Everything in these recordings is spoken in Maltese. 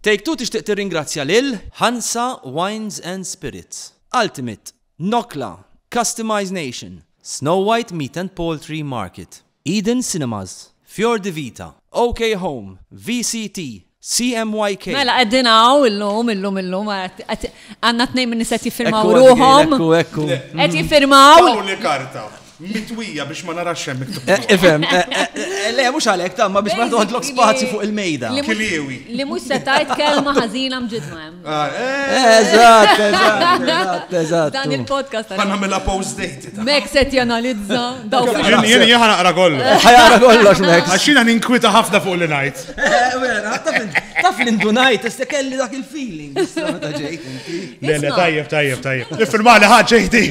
Take Two tixtieq tirringrazzja lil. Hansa Wines and Spirits. Ultimate, Nokla, Customize Nation. Snow White Meat and Poultry Market. Eden Cinemas, Fior di Vita. OK Home, VCT, CMYK. Mela qegħdin hawn illum, illum, illum, għandna tnejn min-nies qed jiffirmaw ruħhom. Ekku, ekku, ekku. Qed jiffirmaw. Tawni karta. Mitwija biex ma narax hemm miktub. Eh, ifhem, eh, eh, le mhux għalhekk tamma biex ma toħodlok spazju fuq il-mejda. Kiliewi. Li mhux se tajt kelma ħażina mġidma hemm. Ah, eżatt, eżatt, eżatt. Dan il-podcast. Ħa nagħmilha post date. Mek se janalizza daw. Jien jien jien ħanaqra kollox. Ħajaqra kollox Mek. Għax jiena ninkwita ħafna fuq li ngħid. Taf l-indunajt, issa kelli dak il-feeling. Le, le, tajjeb, tajjeb, tajjeb. Nifirma li ħaġa jdi.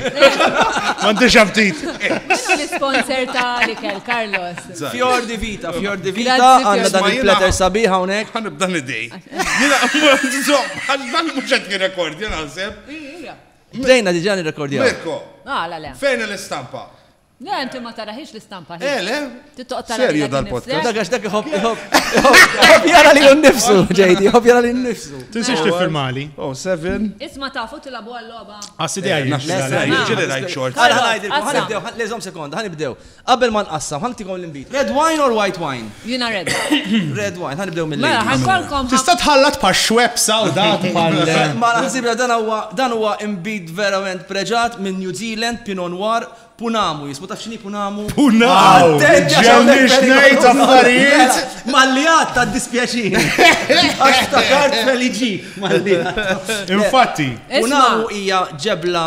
Mandi xabtit. Minu l-sponsor ta' Likel, Carlos. Fjor di Vita, Fjor di Vita, għanna dan il-platter sabiħa unek. Għanna b'dan id-dej. Jena, għal-dan muċet rekord, jena għazeb. Bdejna diġan il-rekordja. Mirko. Ah, la, la. Fejn l-istampa? Le, inti ma taraħiex l-istampa ħin. Eh, le? Tittoq tara Serju dal-podcast. Dak għax dak iħobb iħobb jara li nnifsu, ġejdi, iħobb jara li nnifsu. Tinsiex tiffirmali. Oh, seven. Isma tafu tilabu għall-loba. Għassi dejja jgħid. Ġili rajt xort. Għara ħanajdilkom, ħanibdew, leżom sekonda, ħanibdew. Qabel ma nqassam, ħantikom l-imbit. Red wine or white wine? Jina red. Red wine, ħanibdew mill Mela, ħankolkom. Tista' tħallat pa' xweb sawdat pa' Ma naħsibra dan huwa dan huwa imbit verament preġat minn New Zealand, Pinot Noir, Punamu, jismu taf xini punamu? Punamu! Ġemni xnejt affarijiet! Mallijat ta' dispjaċin! Għax ta' kart feliġi, mallijat. Infatti, punamu hija ġebla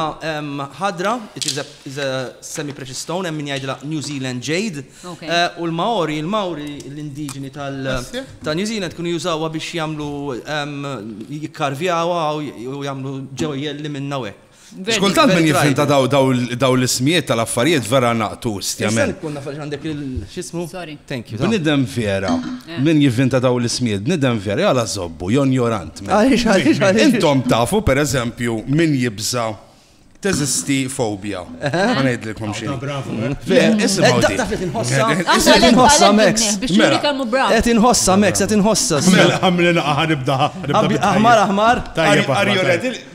ħadra, it is a semi-precious stone, hemm min jgħidla New Zealand jade, eh, u l-Maori, l-Maori, l-indiġeni ta' New Zealand kunu jużawha biex jagħmlu jikkarvjawa u jagħmlu ġewjelli minna u hekk. Xkultant minn jifhem ta' daw l-ismijiet tal-affarijiet vera naqtu stjament. Kun nafx għandek il-xismu? Sorry. Thank you. Bnidem vera, eh. minn jifhem ta' daw l-ismijiet, bnidem vera, jgħala zobbu, jon jorant. Għalix, għalix, għalix. Intom tafu, per eżempju, minn jibza teżisti fobja. Għanajdlikom xie. Bravo. Inħossa Max. Biex mela. kammu bravo. Et inħossa Max, et inħossa. Mela, għamlina għanibda. Aħmar, aħmar. Tajjeb,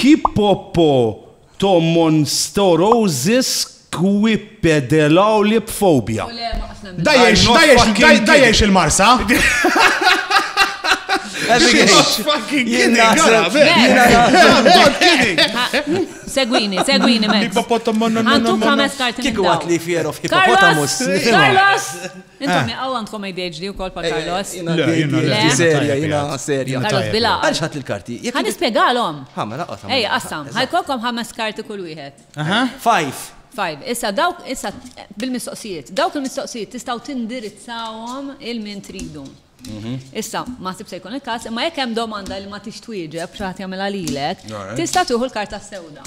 Hippopothomonstorousisquipedelaulipphobia. Da jgħix il-Marsa? Segwini, segwini, Max. Hippopothomonstorousisquipedelaulipphobia. Kiku għat li fear of hippopotamus. Carlos! Intom jaqaw eh. għandkom ADHD u kol pa' eh, eh, Carlos. Le, jina le. Serja, jina serja. Carlos bila. Għalx ħat l-karti. Għan ispiegalom. Għamma laqqa. Ej, qassam. Għajkolkom ħames karti kull wieħed. Five. Five. Issa dawk, issa bil-mistoqsijiet. Dawk il-mistoqsijiet tistaw tindirizzawom il-min tridu. Mhm. Issa, ma sib se jkun il-kas, ma jekk hemm domanda li ma tix twieġeb xaħat jagħmilha lilek, tista' tuħu l-karta sewda.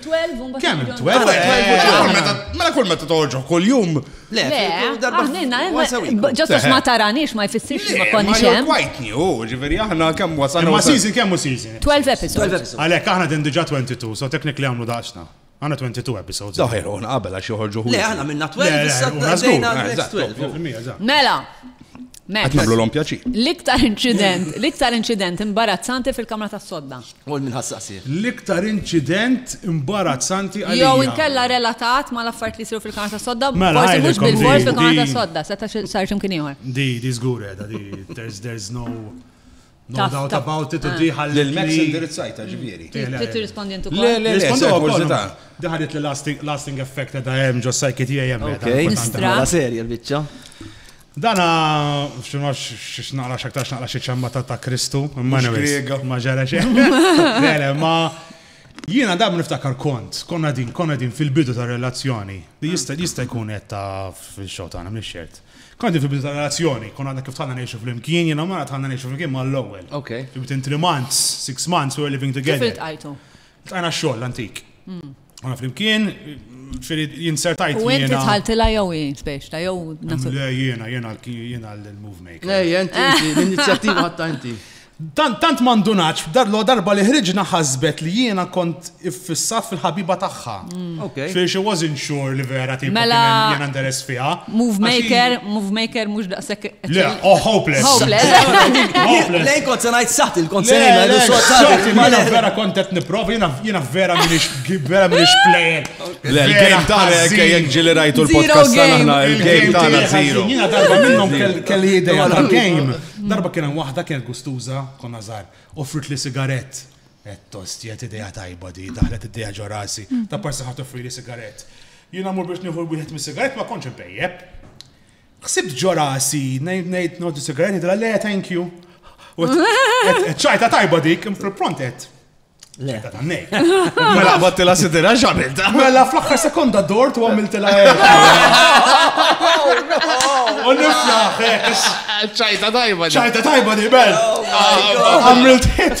12 un Kemm 12? Mela kull meta toħorġu kull jum. Le, darba Ġastu ma taranix ma jfissirx li ma konni xem. Quite new, ġifieri aħna kemm wasalna. Ma season kemm u season? 12 episodes. Għalhekk aħna din diġà 22, so technically għamlu daqsna. Għana 22 episodes. Daħir, un qabel għax joħorġu. Le, għana minna 12, issa għana next 12. Mela, Għat namlu l-om pjaċi. L-iktar incident, l-iktar incident imbarazzanti fil-kamra tas sodda. Mort minn ħadd saqsih. L-iktar inċident imbarazzanti għalija. Jew inkella relatat mal-affarijiet li jsiru fil-Kanal tas-Sodda, forsi mhux bilfors fil-Kanal tas-Sodda, seta' sar xi mkien ieħor. Di, di żgur qiegħda, di there's no doubt about it, u di ħalli. Lill-MEX indirizzajtha, ġifieri. Trid tirrispondi int ukoll. Le, le, le, se kurżità. Di ħadiet li lasting effect qiegħda hemm ġo psyche tiegħi hemm qiegħda. Mela serja l-biċċa. Dan hu, xi naf xiex naqra x'aktar x'naqra xi ċammata ta' Kristu, imma Griega. Ma ġara xejn. Lele, ma jiena dam niftakar kont, konna din, konna din fil-bidu ta' relazzjoni. Li jista' jista' jkun qed ta' fil-xogħol tagħna mhix xert. Konna din fil-bidu ta' relazzjoni, konna għadna kif tħallna ngħixu flimkien, jiena mara tħallna ngħixu flimkien mal-ewwel. Ok. Within three months, six months, we were living together. Kif iltqajtu? Tqajna xogħol antik. Għana flimkien, xiri jinsertajt. U inti tħaltila jew jien biex ta' jew nasu. Le jiena, jiena jiena l-move maker. Le, jien l-inizjattiva ħatta inti. Tant mandunaċ, darlo darba li ħriġna ħasbet li jiena kont iffissat fil-ħabiba tagħha. Mm. Fiex she wasn't sure li vera ti mela jiena nderes fiha. Move maker, move maker, mux daqsek. Le, oh, hopeless. Hopeless. Hopeless. Lej kont sanajt saħt il-kont sanajt. Le, saħt il-mana vera kontet niprof, jina vera minix, vera minix player. Le, il-game tana, kajek ġili rajtu l-podcast tana, il-game tana zero. Jina darba minnom kelli ideja tal-game. Darba kienem wahda kienet gustuza, konna zar, offrit li sigaret. Ettost, jgħet idea tajba di, daħlet idea ġo rasi, ta' parsi ħat offrili sigaret. Jina mur biex nieħu wieħed mis sigaret ma konċ bejjeb. Xsibt ġo rasi, nejt nejt nodu sigaret, jidra le, thank you. ċajta tajba dik, fil-prontet. Le. Ta' nej. Mela batti la sidira ġamilta. Mela fl-axħar sekonda dort u għamilti la U niflaħ, ċajta tajba di. ċajta tajba di, bel. Oh Għamilt hit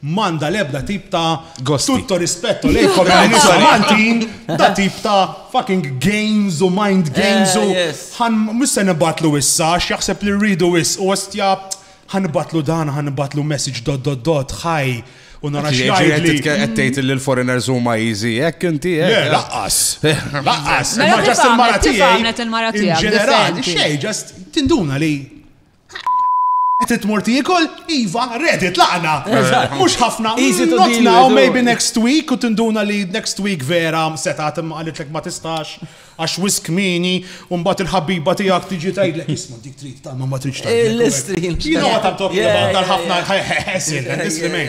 M'għandha l-ebda tip ta' tutto rispetto lejkom għal nisa Maltin, da tip ta' fucking games u mind games u ħan mhux se nibgħatlu issa għax jaħseb li rridu wis u ostja ħan nibgħatlu dan ħan nibgħatlu message dot dot dot ħaj u nara x'jgħidli. Qed tgħid li l-foreigners huma easy hekk inti hekk. Laqqas. Laqqas. Ma ġast il-mara tiegħi. Il-mara tiegħi. Ġenerali, xejn, ġast tinduna li Qed tmur tiekol? Iva, ready, tlaqna. Mhux ħafna. Easy to deal now, maybe next week u tinduna li next week vera seta' imma qalitlek ma tistax għax wisk mini u mbagħad il-ħabiba tiegħek tiġi tgħidlek isma' dik trid talma ma tridx talma. Il-istrin. Jiena ma tant talk about ħafna ħesil, this remain.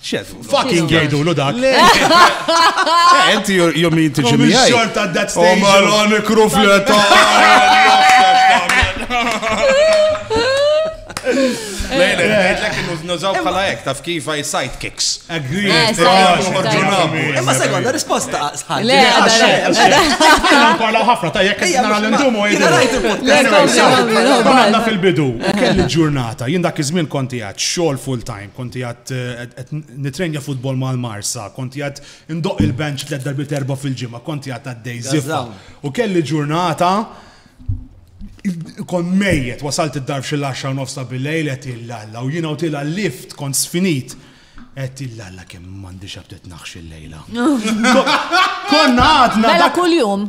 Xed, fucking jgħidulu dak. Enti jom jinti ġimmi. Xort at that stage. Omalon krufleta. Lejla, għedlek nużaw bħala ek, taf kif għaj sidekicks. Agree. Imma sekonda, risposta sħal. Le, Parla ħafna, ta' jek nara l-intumu għanna fil-bidu, kelli ġurnata, jien dak iż-żmien konti għad xogħol full time. Kont qiegħed qed nitrenja futbol mal-Marsa, kont qiegħed indoqq il-bench tliet darbiet erbgħa fil-ġimgħa, kont qiegħed għaddej żiffa. U kelli ġurnata kont mejjet, wasalt id-dar f'xi l-10 nofs ta' bil-lejl qed illalla u jiena u tilha lift kont sfinit. Qed illalla kemm m'għandix aptit naħx il-lejla. Konna għadna. Mela kuljum.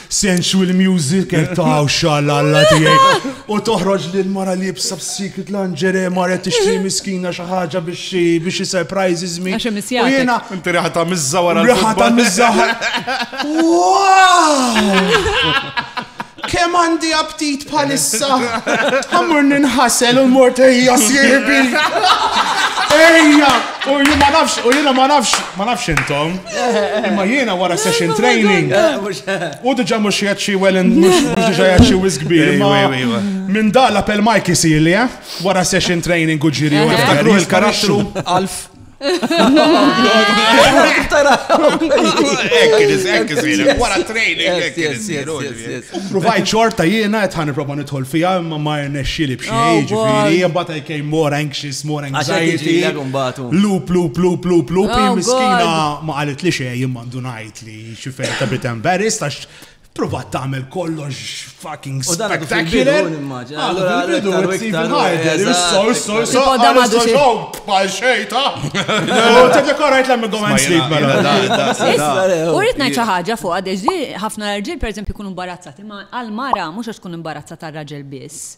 sensual music qed taw xalalla tiegħek u toħroġ li l-mara li jibsa b'secret lingerie mara tixtri miskina xi ħaġa biex biex xi surprises mi. Għax hemm U jiena Inti riħata mizza wara riħata l-futbol. mizza. Kemm għandi aptit bħalissa. Għamur ninħasel u mort ejja sieħbi. Ejja! U jien ma nafx, u jiena ma nafx, ma nafx intom. Imma jiena wara session training. U diġa mux jgħat xie wellen, mux diġa jgħat xie wizgbi. Minn da la pel Mike jisir li, eh? Wara session training u ġiri. Għaftakru il-karattru, Alf. Wara training, Provajt xorta jiena għetħan proba nidħol fija, ma ma rnexxili bxej, oh, ġifiri, jibata I came more anxious more anxiety. Loop, loop, loop, loop, loop. Oh, miskina ma għalit li xej jimmandu najt li xifer ta' bit embarrassed għax provat tagħmel kollox fucking spectacular. Allora bidu Stephen Harder, isso, isso, isso, għadu xogħol bħal xejn ta'. U tiddekorajt l-għamil għomem sleep mela. U rrid ngħid xi ħaġa fuq għadex di ħafna rġiel pereżempju jkunu imbarazzati, ma għal mara mhux għax tkun imbarazzata raġel biss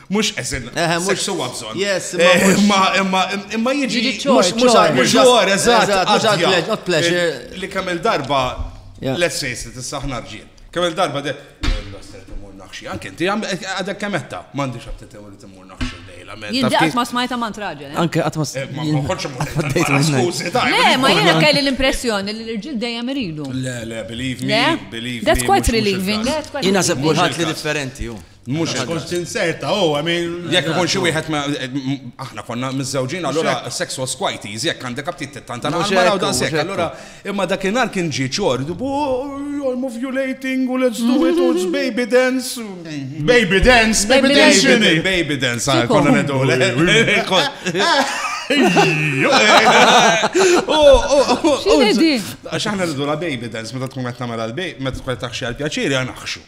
Mhux eżin, mhux suwa bżonn. Yes, imma imma imma jiġi mhux mhux mhux ġor, eżatt, għad pleasure. Li kemm il-darba let's face it, issa aħna rġiel. Kemm il-darba de naħxi, anke inti għadek kemetta, m'għandix aptit li timmur naħxi lejla. Jinti qatt ma smajta ma traġel. Anke qatt ma smajta. Le, ma jiena kelli l-impressjoni li l-irġiel dejjem iridu. Le, le, believe me, believe me. That's quite relieving. Jiena sepp kulħadd li differenti. Mux tkun tinserta, u għamin. Jek ikun xi wieħed aħna konna mizzawġin, allura sex was quite easy, jek għandek abtit t-tanta naqmara u daqsek, allura imma dakinhar kien ġi ċord, bu I'm ovulating u let's do it, it's baby dance. Baby dance, baby dance, baby dance, ah, konna nedu. Xaħna nidu la baby dance, meta tkun għetna mela l-baby, meta tkun għetna xie għal-pjaċiri, għanaxxu.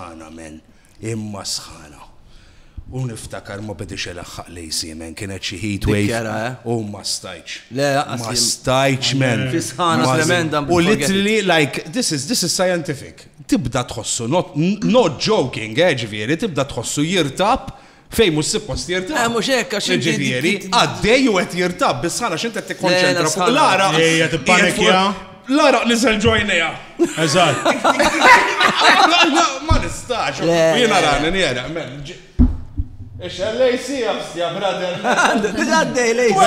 Għan amen. Imma sħana. U niftakar ma bediex ilaħħaq lejn Siemen, kienet xi heatwave u ma stajtx. Le, lanqas. Ma stajtx men. Fi sħana tremenda. U literally like this is this is scientific. Tibda tħossu not not joking, eh ġifieri, tibda tħossu jirtab Fejn mhux suppost jirtab. Eh, mhux hekk għax inti. Ġifieri, għaddej u qed jirtab biss ħana x'inti qed tikkonċentra fuq l-ara. Ejja tippanikja. L-ara li sel ġojnija. Eżatt. Ma nistax. Jiena rani njera. Ix-xellej sija, brother. Għaddej lejsi.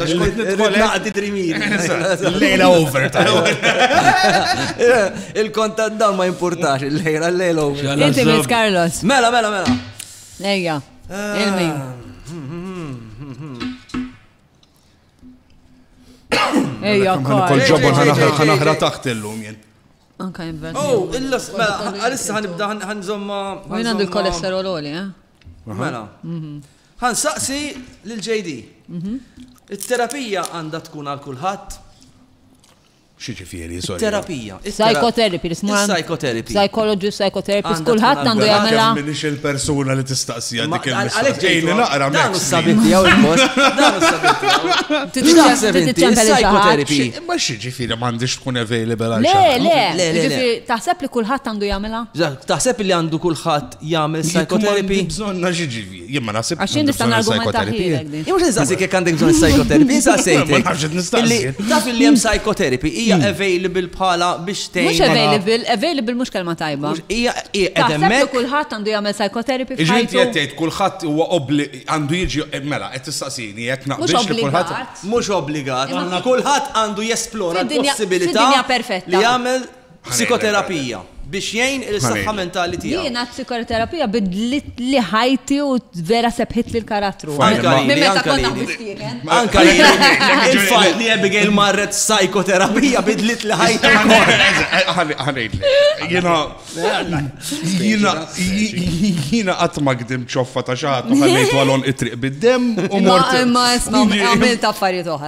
Tax kont nidħol naqdi drimir. Lejla over ta' Il-kont ta' dan ma jimpurtax il-lejla, l-lejla over. Inti Miss Carlos. Mela, mela, mela. Ejja, il-min. Ejja, kol ġobon ħanaħra taħt illum jien. Anka jibben. Oh, illa, mela, għalissa ħanibda ħanżomma. Għin għandu l-kolesterol oli, eh? Mela. Mhm. Ħa nsaqsi lil JD. It-terapija għandha tkun għal kulħadd? X'jiġifieri, sorry? It-terapija. Psychotherapy, li smur. Is-psychotherapy. Psychology, psychotherapist, kulħadd għandu jagħmilha. M'iniex il-persuna li tistaqsija dik il-mistoqsija. Għalhekk ġejli naqra minn. Dan hu s-sabiet tiegħu l-post. Dan hu s-sabiet tiegħu. X'taħseb inti? Psychotherapy. Imma x'jiġifieri m'għandix tkun available għal xi Le, le, le. Taħseb li kulħadd għandu jagħmilha? Taħseb li għandu kulħadd jagħmel psychotherapy? Bżonna x'jiġifieri? Jien ma naħsibx. Għax jien nista' nargumenta ħilek din. Mhux insaqsik jekk għandek bżonn psychotherapy, insaqsejtek. Ma nafx qed nistaqsi. Taf li hemm psychotherapy hija hmm. available bħala biex tgħin. Mhux available, available mhux kelma tajba. Hija qed hemmhekk. kulħadd għandu jagħmel psychotherapy f'ħajtu. Iġrid qed tgħid kulħadd huwa obbli għandu jiġi eh, mela qed tistaqsini jekk naqbilx li kulħadd mhux obbligat. Kulħadd għandu jesplora l-possibilità li jagħmel Psikoterapija biex jgħin il-saħħa mentali tiegħu. Jiena psikoterapija bidlitli ħajti u vera sebħitli l-karattru. Anka li minn meta kont naħdmu f'tieken. Anka li il-fatt li Abigail marret psikoterapija bidlitli ħajti. Ħanejdli. Jiena jiena jiena qatt ma gdim ċoffa ta' xagħat u ħallejtu għalhom it-triq bid-dem u mort. Ma għamilt affarijiet oħra.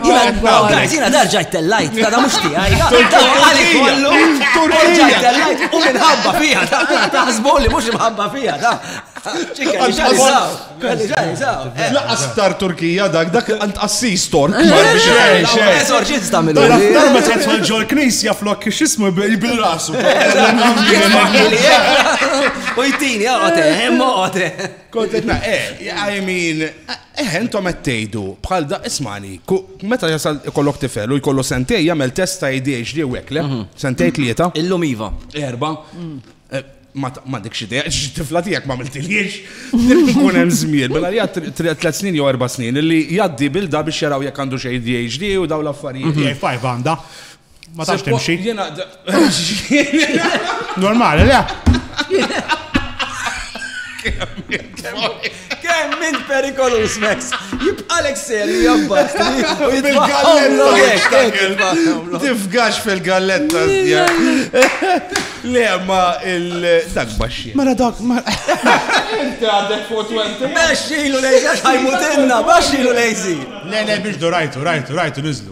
Guys, jina darġajt tellajt, ta' da mux tijaj, ta' għali kollu, darġajt tellajt, u minħabba fija, ta' taħsbu li mux mħabba fija, ta' Laqas tar Turkija dak, dak għant assis tork. Esorċista minn Dar ma tħol ġol knisja flok xismu bil-rasu. U jtini, għote, għote. Kontet na, eh, I mean, Eħe, intom qed tgħidu bħal da, ismagħni, ku, meta jasal ikollok tifel u jkollu sentejn jagħmel test ta' ADHD u hekk, le? Sentejn, tlieta? Illum iva. Erba'? E, ma, m'għandekx idea, għax it-tifla tiegħek m'għamiltilhiex. Trid ikun hemm żmien, mela li għad tliet snin jew erba' snin, li jgħaddi bil da biex jaraw jekk għandux ADHD u dawn l-affarijiet. Hija five għandha. Ma tafx timxi. Normali, le? Kemm minn perikolus, Max? Jibqalek ser jabbat. Fil-galletta. Tifgax fil-galletta. Le, ma il-dak baxxi. Mela dak, ma. Inti għadek fuq 20. Baxxilu lejzi, ħajmutinna, baxxilu lejzi. Le, le, biex do rajtu, rajtu, rajtu, nizlu.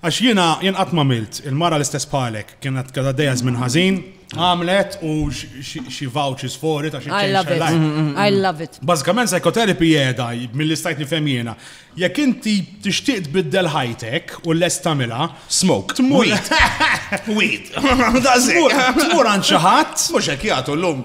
Għax jiena jien qatt m'għamilt, il-mara l-istess bħalek, kienet kienet għaddejja żmien ħażin, għamlet u xi vouchers for it għax I love it. Mm, mm, mm. I love it. Bażikament psychotherapy jeda mill istajt nifhem jiena. Jekk inti tixtieq tbiddel ħajtek u lest tagħmilha, smoke, tmur. Weed. Tmur għand xi ħadd. Mhux hekk jagħtu llum.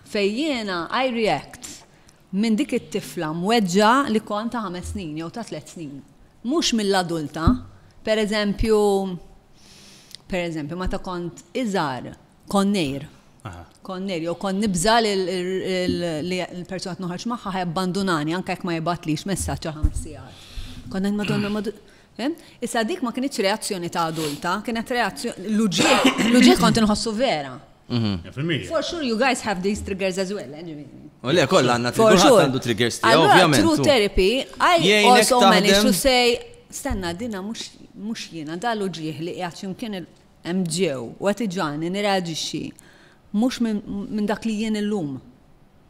Fejn jiena I react minn dik it-tifla mweġġgħa li kont ta' ħames snin jew ta' tliet snin. Mhux mill-adulta. Per eżempju, per eżempju, meta kont iżgħar, kont ngħir. Kont ngħir jew kont nibża' li l-persuna qed noħroġ magħha ħa jabbandunani anke jekk ma jibgħatlix messaġġ għal ħames sigħat. Kont ngħid Madonna, Issa dik ma kinitx reazzjoni ta' adulta, kienet reazzjoni l-uġiegħ, l-uġiegħ kont inħossu vera. For sure you guys have these triggers as well, anyway. U le, kollha għandna triggers, għandu triggers tiegħu, ovvjament. True therapy, I also managed to say, stenna, dina mhux jiena, dalu ġieħ li qiegħed x'imkien il-MGO u qed iġani nirreaġixxi mhux minn dak li jien illum.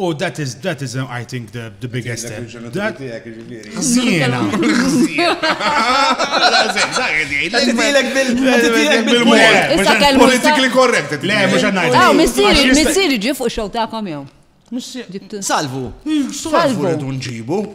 U that is, that is, I think, the, the biggest step. Zina. Politically correct. Le, mux għannajt. Aw, missiri, missiri ġi fuq xow ta' kamjon. Salvu. Salvu. Salvu.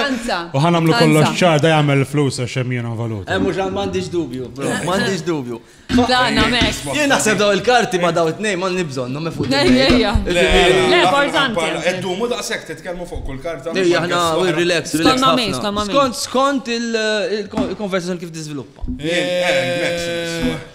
Ħanza. U ħan għamlu kollox ċar da jagħmel flus għax hemm jiena valuta. Hemm mhux m'għandix dubju, bro, m'għandix dubju. Dan għamek. Jien naħseb daw il-karti ma daw it-tnejn ma nibżon, no mefu. Ejja. Le, importanti. Eddumu daqshekk titkellmu fuq kull karta. Ejja, aħna relax, relax. Skont ma' skont ma' Skont skont il-konversazzjoni kif tiżviluppa. Eh, eh,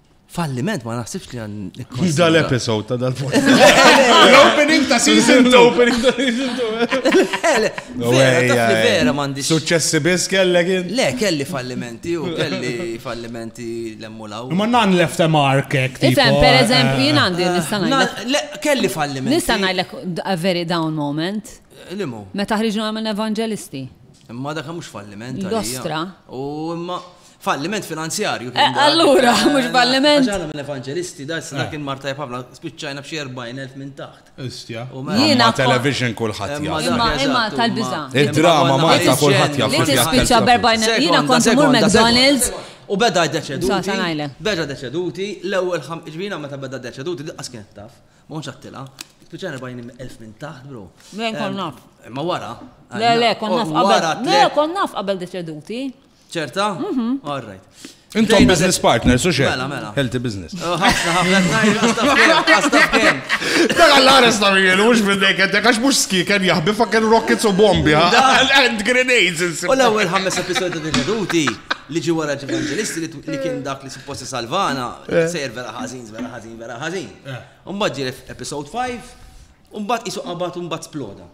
Falliment ma naħsibx li għan. Hi dal-episode ta' dal-podcast. L-opening ta' season 2. L-opening ta' season 2. Vera mandi. Successi bis kellek jien. Le, kelli fallimenti u kelli fallimenti l-emmulaw. Ma nan left a mark ek. Ifem, per eh, eżempju, jien eh, għandi eh, nistanajlek. Le, kelli fallimenti. Nistanajlek a very down moment. Limu. Meta ħriġna għamil evangelisti. Imma dak mhux falliment. Dostra. U imma. Falliment finanzjarju kien dak. Allura, mhux falliment. Għax aħna mill-evanġelisti, da issa dak kien mar tajjeb ħafna, spiċċajna b'xi 40,000 minn taħt. Histja. Imma television kulħadd jaf. Imma dak eżatt. Imma tal-biża'. Id-drama Malta kulħadd jaf. Li tispiċċa b'40,000. Jiena kont immur McDonald's. U beda d-deceduti. Sa, sa ngħidlek. Beda d-deceduti, l-ewwel ħam, ġvina meta beda d-deceduti, diqqas kienet taf. Ma kontx għattilha. Spiċċajna 40,000 minn taħt, bro. Minn kont naf. Ma wara. Le, le, kont naf qabel. Le, kont naf qabel deceduti. ċerta? Mhm. All right. Intom business partners, u xe? Mela, mela. Healthy business. Oh, ħafna, ħafna, Daga l-għares ta' mil, mux minnek, għedek għax mux ski, kan jahbi fakken rockets u bombi, and grenades. U l-ewel ħammes episodi ta' veduti li ġi wara ġevangelisti li kien dak li supposti salvana, eh. sejr vera ħazin, vera ħazin, vera ħazin. Eh. Umbat ġi episode 5, umbat isu qabat umbat sploda.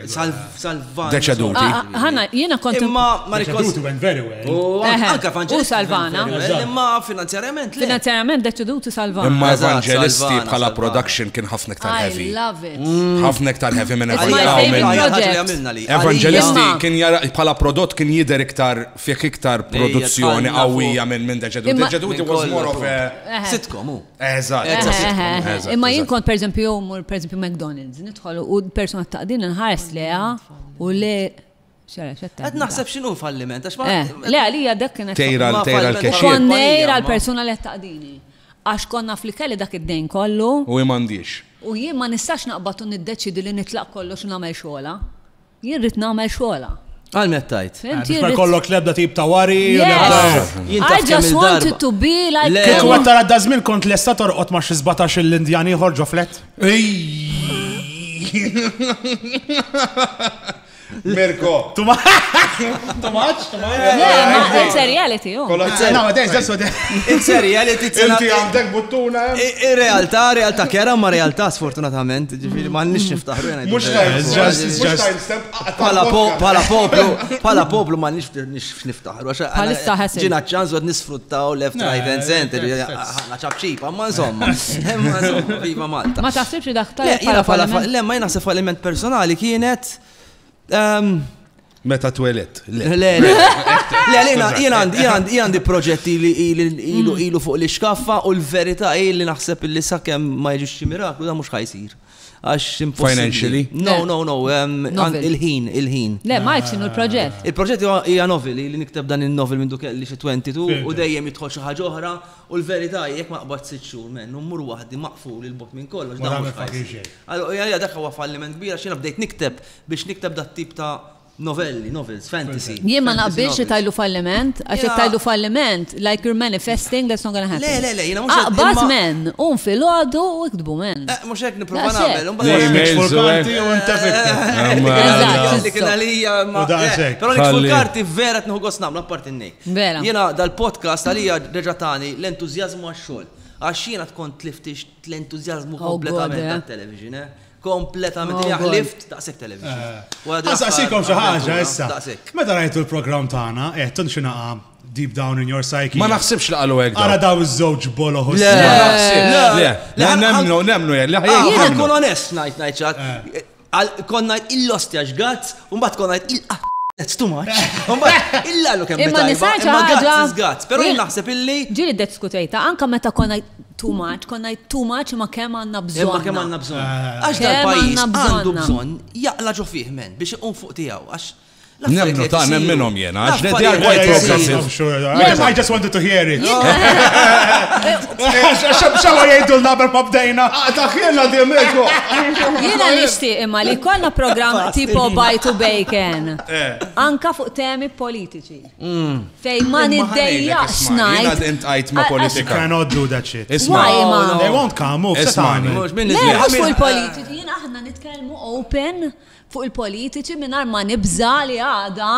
Salvana. Deceduti. Ah, ah, Hanna, jena kont. Imma ma Deceduti went very well. U anka U Salvana. Imma finanzjarjament. Finanzjarjament deceduti Salvana. Imma evangelisti bħala production kien ħafna iktar heavy. I love it. Mm. Ħafna iktar heavy minn evangelisti. Evangelisti kien jara bħala prodott kien jider iktar fik iktar produzzjoni qawwija minn minn deceduti. Deceduti was more of a. Sitkom. Eżatt, Eh, eżatt. eh, eh, eh. eżatt, Imma jien eżatt. kont per eżempju jew mur per eżempju McDonald's, nidħol u persuna taqdin nħares leha u le xara xetta. Qed naħseb x'inhu falliment għax ma Eh, le għalija dak kienet. Tejra Ma tejra falliment. l-kexxir. Kon- Konnej Kompanija, ma. għal-persuna li taqdini. Għax konna fl-kelli dak id-dejn kollu U jmandiex. u jien ma nistax naqbad u niddeċidi li nitlaq kollox u nagħmel xogħla. Jien rrid nagħmel xogħolha. Għal meta tajt. Biex ma jkollok l-ebda tip ta' wari. I just wanted to be like. Kieku għed tara da żmien kont lesta torqod ma' xi 17 l-Indjan ieħor ġo flet. Mirko. Tumaċ, tumaċ. It's a reality. Oh. It's a reality. Inti għandek buttuna. In realtà, realtà kera ma realtà sfortunatament. Ġifiri, ma nix niftaħru jena. Mux timestamp, pala poplu, pala poplu ma nix niftaħru. Għalissa ħessi. Ġina ċans għad nisfruttaw left, right and center, għana ċabċipa, ma insomma. Viva Malta. Ma taħsibx li daħtar. Le, ma jena faliment personali kienet Meta twelet. Le, le, le. Jien għandi proġetti li ilu mm. ilu fuq li xkaffa u l-verità hi li naħseb li sakemm ma jiġux xi miraklu da mhux ħajsir. Għax Financially? No, no, no. Il-ħin, il-ħin. Le, ma jċin il-proġett. Il-proġett hija noveli li nikteb dan il-novel minn dukel li xi 22 u dejjem jidħol xi ħaġa oħra U l-verità hi jekk ma qbadtx sitt xhur menn u mmur waħdi maqful 'il bogħod minn kollox, dan mhux ħa jsir. Għalija dak huwa falliment kbir għax jiena bdejt nikteb biex nikteb dat-tip ta' novelli, novels, fantasy. Jien ma naqbilx li tgħidlu falliment, għax jekk tgħidlu falliment, like you're manifesting that's not gonna happen. Le, le, le, jiena mhux hekk. Aqbad menn, qum filgħodu u iktbu menn. Eh, mhux hekk nipprova nagħmel. L-emails u l-karti u inta fikta. Eżatt. Dik il-għalija ma. Però l-emails u l-karti vera tnieħu gost nagħmlu apparti n-nej. Vera. Jiena dal-podcast għalija reġa' tani l-entużjażmu għax-xogħol. Għax jiena tkun tlift l-entużjażmu kompletament tat-television, eh. Kompletament. Jiena ħlift daqshekk television. Nsaqsikom xi ħaġa issa. Meta rajtu l-programm tagħna, qed tinxinaqa' deep down in your psyche. Ma naħsibx li qalu hekk. Ara daw iż-żewġ boloħ. Le, le, le, nemnu, nemnu, le, ħajja. Jien nkun onest ngħid ngħid Għal konna il-lostja xgazz, un bat konna il That's too much. Umbat, illa lu kemm Imma nisajt ħaġa. Gazz, pero naħseb illi. Ġili d diskutejta, anka meta konna too much, konna too much ma kemm għanna bżon. Ma kemm għanna bżon. Għax dal-pajis għandu bżon jaqla ġo fih men biex iqum fuq tijaw. Għax Nemnu ta' nemminhom jiena, għax li djar white progressive. I just wanted to hear it. Xawa jgħidu l-naber ma bdejna. Ah, ta' kienna di meku. Jiena nishti imma li konna program tipo buy to bacon. Eh. Anka fuq temi politiċi. Mm. Fej ma niddejja xnajt. Jiena dint għajt ma politika. Cannot do that shit. Isma. They won't come, move. Isma. Mux minn il-politiċi, jiena aħna nitkellmu open. fuq il-politiċi mingħajr ma nibża' li għada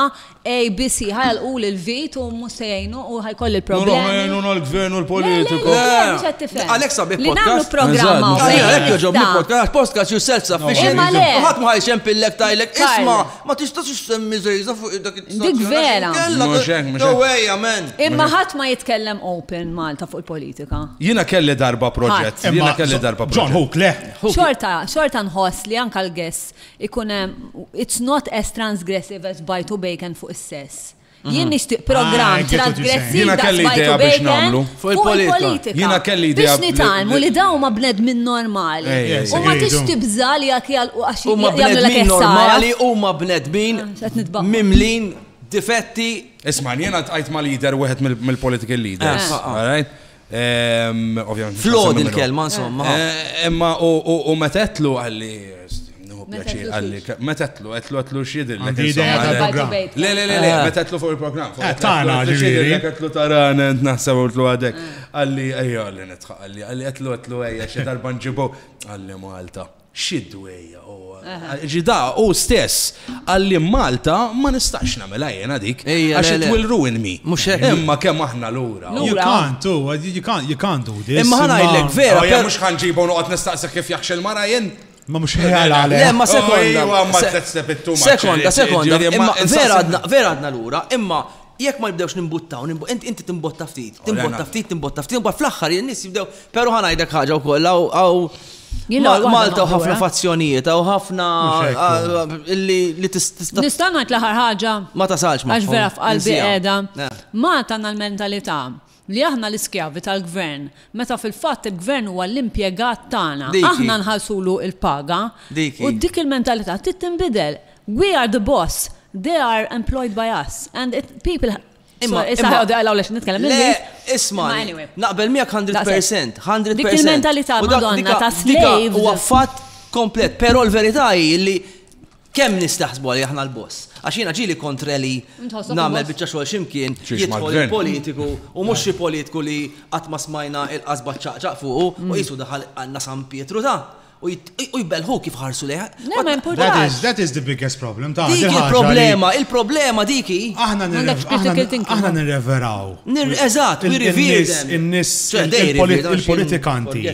ABC ħa jagħlquli l-vit u mhux se jgħinu u ħa jkolli l-problemi. Ħa jgħinuna l-gvern u l-politiku. Le, le, mhux qed tifhem. Għalhekk sabiħ Li nagħmlu podcast. programma u Għalhekk għalhekk joġobni nista'. podcast, podcast you self sufficient. Imma le. U ħadd ma ħajxem pillek tajlek. Karl. Isma, ma tistax issemmi żejża fuq dak it-istazzjon. Dik vera. għax inkella- Mhux hekk, mhux No hekk. way, amen. Imma ħadd ma jitkellem open Malta fuq il-politika. Jiena kelli darba proġett. Ħadd. Jiena kelli darba John proġett. Hook, le. Xorta, xorta nħoss li anka l-guess ikun hemm it's not as transgressive as bite u bacon fuq is-sess. Jien nixtieq Ah, programm I get what you're saying. transgressiv Jiena daqs kelli bite idea u biex bacon nagħmlu. Fuq il-politika. Jiena kelli idea Biex li- nitalmu li- li dawn ma bnedmin normali. Ej, ej, U ma ej. tix tibża li jak jalqu għax Huma jagħmlu l-ek bnedmin ħsara. normali, huma bnedmin Ah, x'qed nitbaqgħu. mimlin difetti Isma, jiena tqajt ma' leader wieħed mill- mill-political leaders. Eh, ah, ah. all right? Flod il-kelma, insomma. Imma u metetlu għalli, għalli, metetlu, għetlu għetlu xidir. Le, le, le, le, metetlu fuq il-program. Eh, tana, ġiviri. Għetlu tarana, naħseb għetlu għadek. Għalli, għalli, għalli, għalli, għetlu għetlu għajja, xedar banġibu. Għalli Malta. Xi dwejjaq hu. Ġi da hu stess qal li Malta ma nistax nagħmilha jiena dik għax it will ruin me. Mhux hekk. Imma kemm aħna lura. Lura. You can't u, you can't, you can't do this. Imma ħa ngħidlek vera. Imma mhux ħa nġibu u noqgħod nistaqsih kif jaħx il-mara jien. Ma mhux ħela għalek. Le, ma sekonda. Ejwa, ma tletztep it-tuma. Sekonda, sekonda. Imma vera għadna lura, imma Jekk ma nibdewx nimbuttaw, inti timbotta ftit, timbotta ftit, timbotta ftit, imbagħad fl-aħħar in-nies jibdew, però ħa ngħidlek ħaġa wkoll hawn Malta u ħafna fazzjonijiet, hawn ħafna li tista' Nista' ngħid l-aħħar ħaġa? Ma tasalx ma. Għax vera f'qalbi qiegħda. Malta għandna l-mentalità Li aħna l-iskjavi tal-gvern, meta fil-fatt il-gvern huwa l-impjegat tagħna. Aħna nħallsulu l-paga. U dik il-mentalità trid tinbidel. We are the boss, they are employed by us and it, people, sorry, issa ħa jgħodu għalawlex nitkellem l-Ingliż. Le, ismagħni, naqbel miegħek hundred percent, hundred percent. Dik il-mentalità, Madonna, ta' slaves. Huwa fatt komplet, però l-verità hi li Kemm nies taħsbuha li aħna l-boss? Għax jiena ġieli kontre li nagħmel biċċa xogħol xi mkien jidħol il-politiku u mhux xi politiku li qatt ma smajna l-qasba ċċaqċaq fuqu u qisu daħal għandna San Pietru ta' u jbellħu kif ħarsu lejha. That is the biggest problem ta' Dik il-problema, il-problema diki. Aħna nirreveraw. Eżatt, nirreveraw. Il-politikanti.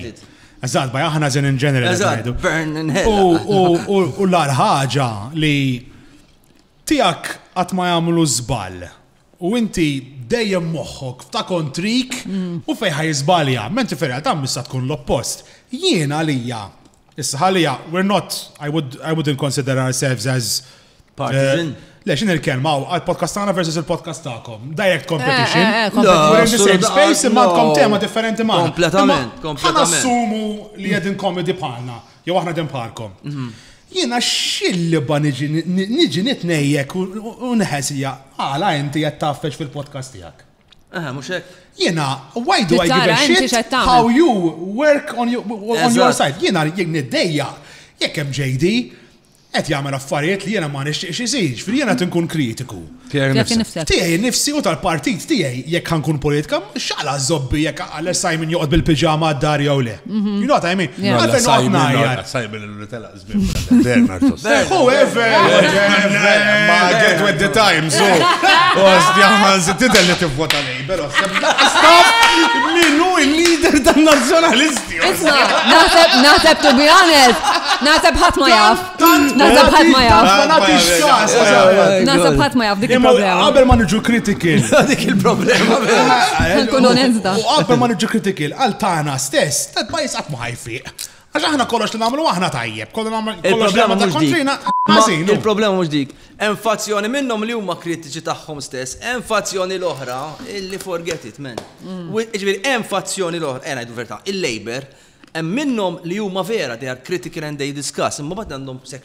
Eżatt, by aħna zin in general. Eżatt, burn in hell. U l-ar ħaġa li tijak għat ma jamlu zbal. U inti dejjem moħħok f'ta' kontrik u fejħa jizbalja. Menti ferja ta' missa tkun l-oppost. Jien għalija, issa għalija, we're not, I, would, I wouldn't consider ourselves as Partisan? Le, xin il-kelma, għal-podcast tagħna versus il-podcast tagħkom. Direct competition. Eh, eh, eh, We're in the same space, imma għandkom tema differenti ma. Kompletament, kompletament. assumu li għedin komedi bħalna, jew aħna din bħalkom. Mhm. Jiena xilliba niġi nitnejjek u nħesija, għala inti qed taffex fil-podcast tiegħek. Aha, mux hekk. Jena, why do I give a shit how you work on your, on your side? Jena, jek niddejja, jek hemm JD, qed jagħmel affarijiet li jiena ma nixtieqx isir, jiġifieri jiena qed inkun kritiku. Tiegħi nifsi u tal-partit tiegħi jekk ħankun politika, x'għala żobbi jekk għal Simon joqgħod bil-piġama għad-dar jew le. Mhm. You know what I mean? Għalfejn noqgħod ngħajjat. Simon li telaq żmien Whoever! Ma get with the times, u. Ostja, ma tidher li tivvota lejn. Pero, stop! Minu il-leader tal-nazjonalisti! Isma, naħseb, naħseb, to be honest, naħseb ħat ma jaf. Naħseb ħat ma jaf. Naħseb ħat ma jaf, dik il-problema. Għabel ma nġu kritikil. Dik il-problema. Nkun onesta. U għabel ma nġu kritikil, għal tana stess, tad-bajs għat ma ħajfiq. Għax aħna kollox li nagħmlu aħna tajjeb, kollu nagħmlu kollox li nagħmlu kontrina. Il-problema mhux dik. Hemm fazzjoni minnhom li huma kritiċi tagħhom stess, hemm fazzjoni l-oħra illi forget it men. Mm. Ġifieri hemm fazzjoni l-oħra, eh ngħidu verità, il-Labor, hemm minnhom li huma vera they are critical and they discuss, imma bad għandhom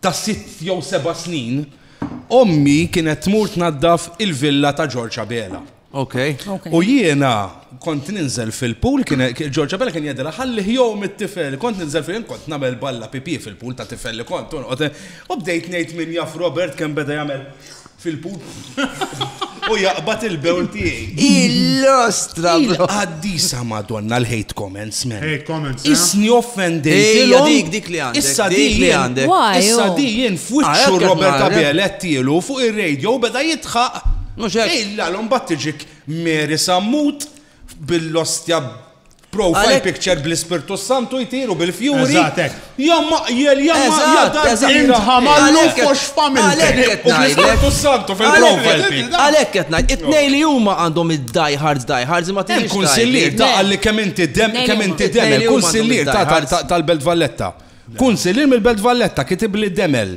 ta' sitt jew seba' snin, ommi kienet tmur tnaddaf il-villa ta' Ġorġ Abela. U jiena kont ninżel fil-pool, Ġorġ Abela kien jgħidilha ħalli jgħum it-tifel, kont ninżel fil-pool, jien kont nagħmel balla pipì fil-pool ta' tifel li kont, u bdejt ngħid min jaf Robert kemm beda jagħmel fil-punt u jaqbad il-bewl tiegħi. Il-lostra. Il-qaddisa Madonna l-hate comments, man. Hate comments. Eh? Isni offendejtilhom. Dik dik li għandek. Issa dik li għandek. Issa oh. dijin f'wiċċu ah, Robert Abel tielu fuq ir-radio beda jitħaq. Mhux hekk. Illa l-om battiġik Mary Sammut. bil-ostja profile picture bl-Ispirtu Santu jtiru bil-fjuri. Jom maqjel, jom maqjel. Intħamallu fux familja. U bl-Ispirtu Santu fil-profile picture. Għalek qed ngħid, it-nej li huma għandhom id-die hard, die hard, ma tinx. Il-kunsillier ta' għalli kemm inti dem, kemm inti dem, il-kunsillier ta' tal-Belt Valletta. Kunsillier mill-Belt Valletta kitib li demel.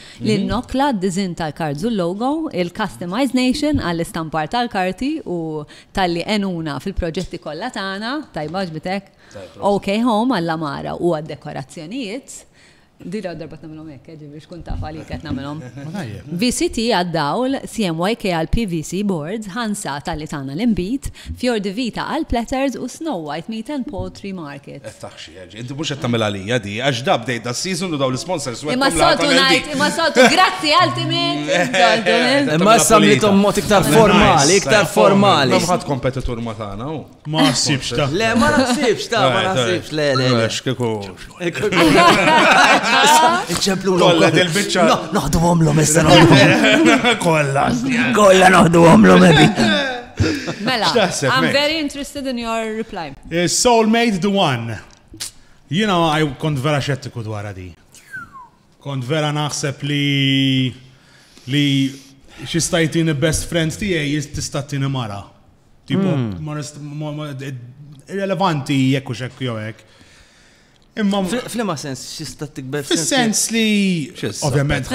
l-innokla, d-diżinn tal-cards u l-logo, il-Customised Nation għall-istampar tal-karti u talli għenuna fil-proġetti kollha tagħna, tajba għaġbit hekk? OK Home għall-għamara u għad-dekorazzjonijiet, din l-ewwel darba qed nagħmilhom hekk eh, ġifieri biex tkun taf għalik qed nagħmilhom. VCT għad-dawl, CMYK għall-PVC boards, Hansa talli tana l-inbid, Fior di Vita għall-platters u Snow White Meat and Poultry Market. Inti mhux qed tagħmel għalija di, għax da bdejt da season u daw l-sponsors u Imma soltu ngħid, imma soltu grazzi ultimate. Imma issa mlitom mod iktar formali, iktar formali. Ma ħadd kompetitur ma tagħna u. Ma nsibx ta. Le, ma nsibx ta, ma nsibx le le. Għax kieku. Iċemplu l Kolla del bicċa. Noħdu għomlom issa. Kolla. Kolla noħdu għomlom ebi. Mela, I'm very interested in your reply. Soulmate the one. Jina kont vera xettiku dwar di. Kont vera naħseb li li xistajtini best friends tijaj jistatini mara. Tipo, hmm. irrelevanti jekk u xekk jowek. Imma flima sens xista tikber fis-sens li ovvjament.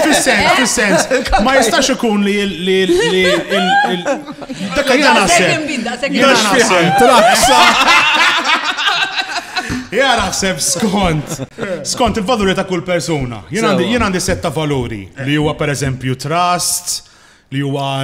Fis-sens, fis-sens. Ma jistax ikun li li li dak li jana naħseb. Jana naħseb. Traksa. Ja naħseb skont, skont il-valuri ta' kull persuna. Jien għandi setta valuri li huwa per eżempju trust, li huwa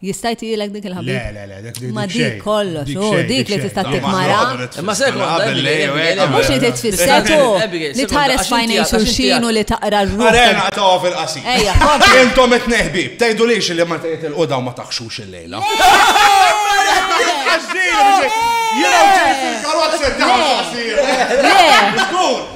Jista' jtielek dik il-ħabib? Le, le, le, dik Ma dik kollox, u dik li tista' tikmara. Ma se Mhux li titfisser tu li tħares fajnej xulxin u li taqra r-ruħ. Arena ta' fil-qasi. Ejja, Intom qed neħbib, tgħidu lix li ma tgħid il-quda ma taħxux il-lejla. Jena ġejt il-karozza ta'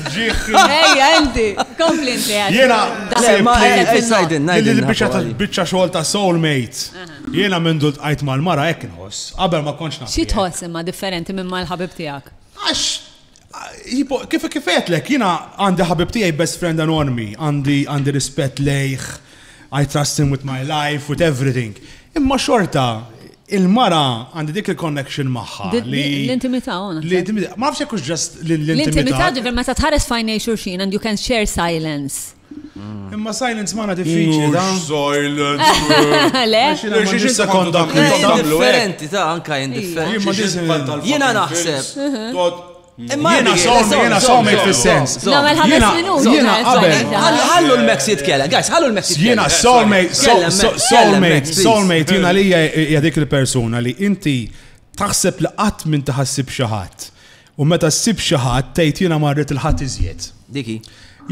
Ejja, Andy, kompli inti għad. Jena, il-bicċa tal-bicċa xogħol ta' soulmates. Jena minn dult għajt mal-mara hekk nħoss, qabel ma konċ naf. Xi tħoss imma differenti minn mal-ħabib tiegħek? Għax kif kifetlek jena għandi ħabib tiegħi best friend anonmi, għandi rispett lejh, I trust him with my life, with everything. Imma xorta, il-mara għandi dik il-connection maħħa. L-intimita għona. Ma nafx jekk ġast l-intimita. L-intimita ġifir ma ta' tħares fajnej xurxin and you can share silence. Mm. Imma silence maħna diffiċli. Silence. Le? Xie sekonda kħiġu. Differenti ta' anka indifferenti. Jena naħseb. Jiena sommi, jiena sommi fil-sens. Jiena qabel. Ħallu l-Max jitkellem, guys, ħallu l-Max jitkellem. Jiena soulmate, soulmate, soulmate, jiena li hija dik il-persuna li inti taħseb li qatt minn taħassib xi ħadd. U meta ssib xi ħadd tgħid jiena marret il-ħadd iżjed. Diki.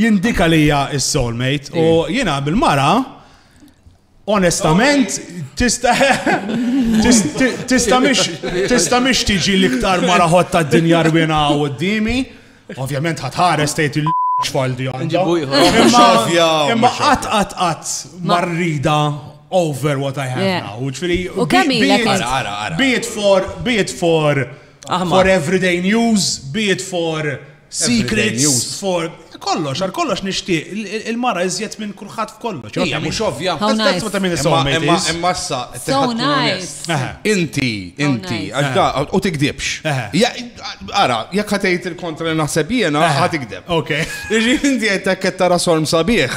Jindika li hija s-soulmate u jiena bil-mara Onestament, tista' tista' mhix tista' mhix tiġi l-iktar mara ħott tad-dinja rwina qudiemi. Ovvjament ħatħares tgħid il xfaldi għandha. Imma qatt qatt qatt marrida over what I have now. Ġifieri, be it for be it for for everyday news, be it for Secrets for kollox, għal kollox nixtieq il-mara iżjed minn kulħadd f'kollox. Hija mhux ovvja. That's what I mean Imma imma issa Inti, inti, u tikdibx. Ara, jekk ħatejt il-kontra li naħseb jiena, ħatikdeb. Ok. Inti qed qed tara sorm sabiħ.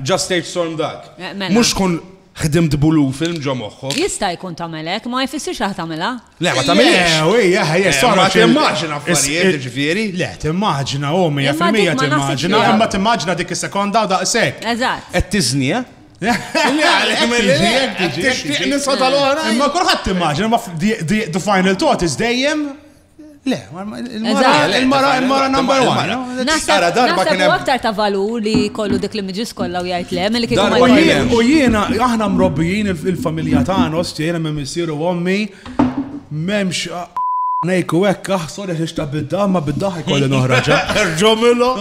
Just stage sorm dak. Mhux kun Ħdimt b'Ulu film ġo moħħok. Jista' jkun tagħmel hekk, ma jfissirx li ħa tagħmilha. Le, ma tagħmilhiex. Le, u hija ħa jessa. Ma timmaġina affarijiet, jiġifieri. Le, timmaġina, u 100% timmaġina, imma timmaġina dik is-sekonda u daqshekk. Eżatt. Qed tiżni, eh? Imma kulħadd timmaġina, ma the final thought is dejjem Le, il-mara, il-mara number one. Naħseb darba kien hemm. aktar ta' valur li kollu dik li miġis kollha u jgħid le, mill kieku ma jgħid. U jiena, aħna mrobbijin il-familja tagħna, osti jiena minn missieru ommi, memx nejku hekk aħsor jaħiex ta' bidda, ma bidda ħajkolli noħraġa. Erġomillu.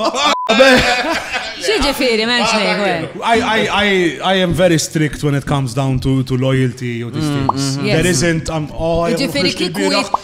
Xieġifiri, menx nejku. I am very strict when it comes down to, to loyalty or these mm, things. Mm, mm. There isn't, I'm, um, oh, Ġifiri kiku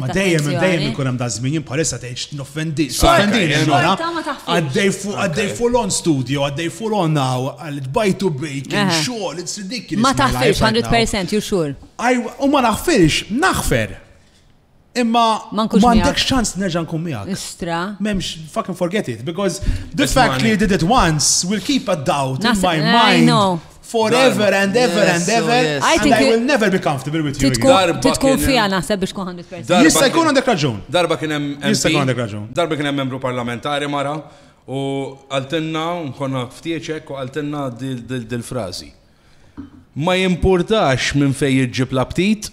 Ma dejjem dejjem ikun hemm daż-żmien jien bħalissa tgħidx noffendi. Offendini mara. Għaddej fuq għaddej full on studio, għaddej full on now, għal tbajtu bejk, xogħol, it's ridiculous. Ma taħfirx 100% you sure. U ma naħfirx, naħfer. Imma ma għandekx ċans nerġa' nkun miegħek. Istra. M'hemmx fucking forget it because the fact li you did it once will keep a doubt in my mind. Forever and ever and oh, ever. I think I will never be comfortable with you. Titkun fija naħseb biex kuħan dispersi. Jista jkun għandek raġun. Darba kien hemm. Jista jkun għandek raġun. Darba kien hemm membru parlamentari mara u għaltinna nkonna ftieċek u għaltinna dil-frazi. Ma jimpurtax minn fej jġib l-aptit,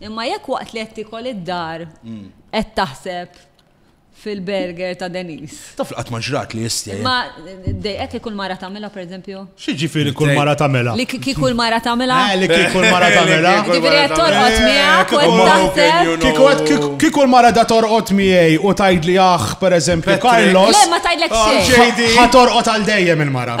Imma jekk waqt li qed tikol id-dar qed taħseb fil-burger ta' Denis. Taf qatt ma ġrat li jistja. Ma dejqek li kull mara tagħmilha pereżempju? Xi ġifieri kull mara tagħmilha? Li kieku kull mara tagħmilha? Eh, li kieku kull mara tagħmilha. Ġifieri qed torqod miegħek u qed taħseb. Kieku kull mara da torqod miegħi u tgħidli aħ pereżempju Carlos. Le ma tgħidlek xejn. Ħa torqod għal dejjem il-mara.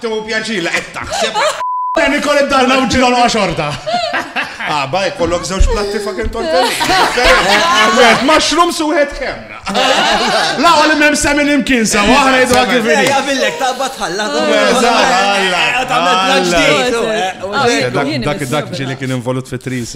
Tew pjaċir li qed taħseb. Dan ikol id-darna u ġilol xorta. Ah, baj, kollok zewġ platti fucking tortelli. Għed, mushroom suħed kemna. La, għal mem semin imkien sa, waħna jidu għak il-vini. Eja, villek, talba tħalla. Dak ġili kien involut fit-tris.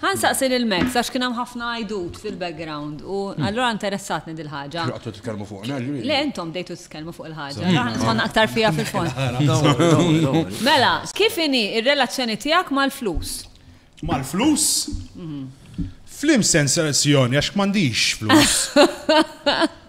Ħa nsaqsi lil Max għax kien hemm ħafna għajdut fil-background u allura interessatni dil-ħaġa. X'waqt qed titkellmu fuqna ġieli? Le intom bdejtu titkellmu fuq il-ħaġa. Aħna tħanna aktar fiha fil-fond. Mela, kif inhi r-relazzjoni tiegħek mal-flus? Mal-flus? Fl-imsenserazzjoni għax m'għandix flus.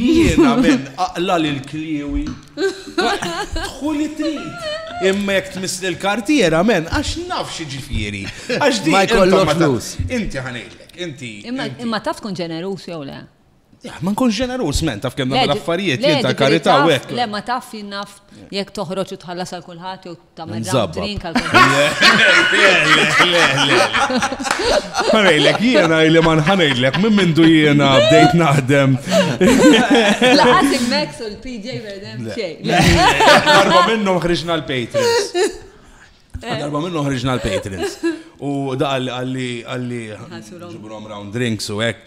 Jiena men aqla li l-kliewi. Tħu li trid. Imma jek tmiss li l-kartiera men, għax naf xi ġifieri. Għax di. Ma jkollok flus. Inti ħanejlek, inti. Imma taf tkun ġenerus jew le. Ma nkun ġenerus men taf kemm nagħmel affarijiet li ta' karità u hekk. Le ma taf jinnaf jekk toħroġ u tħallas għal kulħadd jew Ta' ma Nżabba. drink għal Ħanejlek, jiena li ma nħanejlek, minn mindu jiena bdejt naħdem. Laħat il-Max u l-PJ Verdem xej. Darba minnhom ħriġna l-Patrons. Darba minnhom ħriġna l-Patrons. U da għalli għalli Ħassu round. ġibrom round drinks u hekk.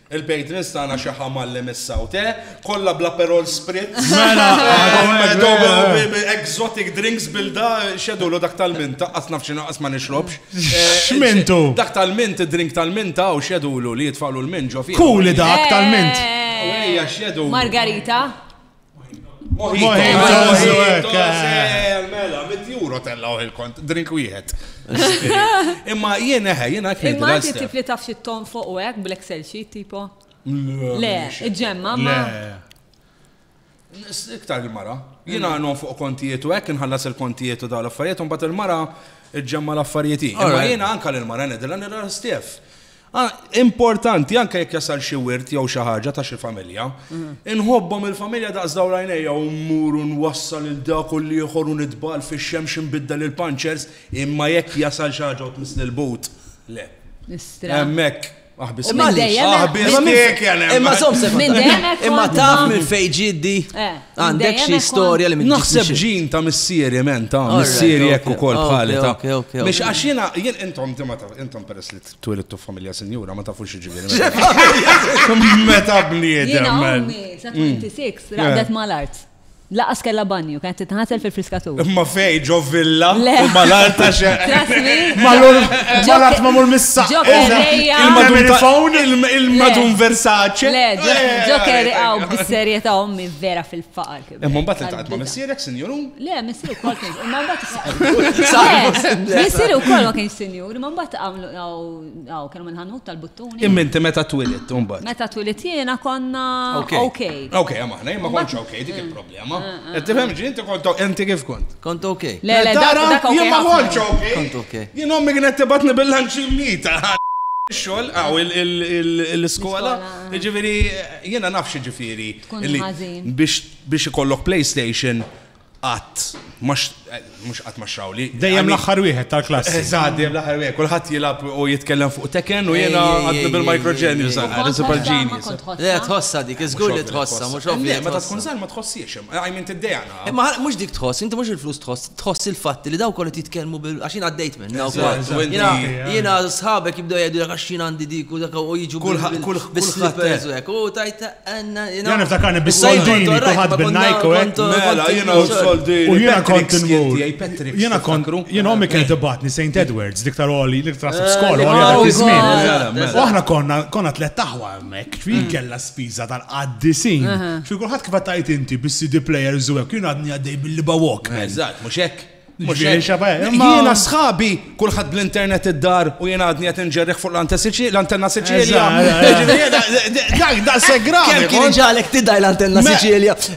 Il patrons tagħna xi ħamallem issa u te, kollha bl-aperol spritz. Mela, exotic drinks bilda xedulu dak tal-minta, qas naf xi naqas ma nixrobx. X'mintu? Dak tal-mint, id-drink tal-minta u xedulu li jitfgħulu l-mint ġo fih. Kuli dak tal-mint. Ejja xedulu. Margarita. Mojito, mela, mit juro tellaw il-kont, drink wieħed. Imma jien eħe, jien għak Imma għati tifli taf xi ton fuq u għek, bl-Excel sheet tipo? Le, iġemma, ma. Iktar il-mara. Jien għanon fuq kontijiet u għek, nħallas il-kontijiet u daw l-affarijiet, un bat il-mara iġemma l-affarijiet. Imma jien anka l-mara nedilla nirra stef. Ah, importanti, anke jekk jasal xi wirt jew xi ħaġa ta' xi familja, inħobbhom il-familja daqs daw l-għajnejja u mmur u nwassal il dak u l-ieħor u nitbal fix-xemx inbiddel il-panċers, imma jekk jasal xi ħaġa u tmiss lil but, le. Nistra. Hemmhekk aħbis Imma tiegħek. dejjem- Aħbis Imma minn- tiegħek jana. Imma zom Minn sekonda. dejjem hekk Imma kont taf ma- minn fejn ġiddi. Eh, minn Għandek dejjem xi hekk storja li minn Naħseb ġin ta' missieri men ta' Alright, missieri okay, jekk ukoll okay, bħali ta' okay, okay, okay. Mhix għax jiena jien intom inti ma taf intom peress li Twilidtu f'familja sinjura, ma tafux ġiġiġi. Meta bniedem. Jena għammi, sa 26, mm. raqdet ma l-art. Laqas kella banju, kienet titħasel fil-friskatur. Ma fej, ġo villa, ma l-art ta' xe. Ma l-art ma mur missa. Ġo kerreja. Il-madun il-madun Versace. Le, ġo kerreja, bis-serjeta ommi vera fil-faqar. Imma mbagħad iltaqgħet ma' missierek, sinjur u? Le, missier ukoll kien. Imma mbagħad Missier ukoll ma kienx sinjur, imma mbagħad hawn kienu minn ħanut tal-buttuni. Imma inti meta twilit mbagħad? Meta twilit jiena konna OK. OK, imma aħna ma kontx OK, dik il-problema. Eh, eh, Qed tifhem eh. ġi inti kont inti kif kont? Kont OK. Le, le, dak jien ma kontx OK. Kont OK. Jien ommi kienet tibatni bil-lanċi mita. Xogħol, għaw il-iskola, ġifieri jiena nafx ġifieri Tkun Illi ħażin. biex biex ikollok PlayStation qatt ma x- eh, mhux qatt ma xrawli. Dejjem l-aħħar wieħed tal-klassi. Eżatt, dejjem l-aħħar wieħed. Kulħadd jilgħab u jitkellem fuq Tekken u jiena Ej, ej, għadni ej, bil-Micro ej, ej, Genius ej. għal Super Kont Genius. ħossha, ma kont Le, ħossha. tħossa dik, iżgur li tħossa, mhux ovvja. Le, meta tkun żgħar ma tħossiex hemm. I mean tiddejjaq Imma mhux dik tħoss, inti mhux il-flus tħoss, tħoss il-fatt li dawk kollha jitkellmu bil għax jien għaddejt minn dawk Jiena jiena sħabek jibdew jgħidu lek għax jien għandi dik u dak u jiġu kull bis-slippers u hekk. U tajt għandna. Jiena niftakarni bis-soldini kulħadd bin-Nike u hekk. Mela jiena u soldini. U jiena kont inmur. Jiena kont jiena ommi kienet ibatni St. Edwards, dik tal-oli, dik tal-skola, oli għal żmien. U aħna konna konna tlet taħwa. hekk fi kellha spiża tal-qaddisin. Fi kulħadd kif qed tgħid inti bis-CD players u hekk jien għadni għaddej bil-liba walk. Eżatt, mhux hekk. Jiena sħabi, kulħadd bl-internet id-dar u jiena għadni qed inġerriħ fuq l-antenna Siċilja. Dak da segra. Kien ġalek tidaj l-antenna Siċilja.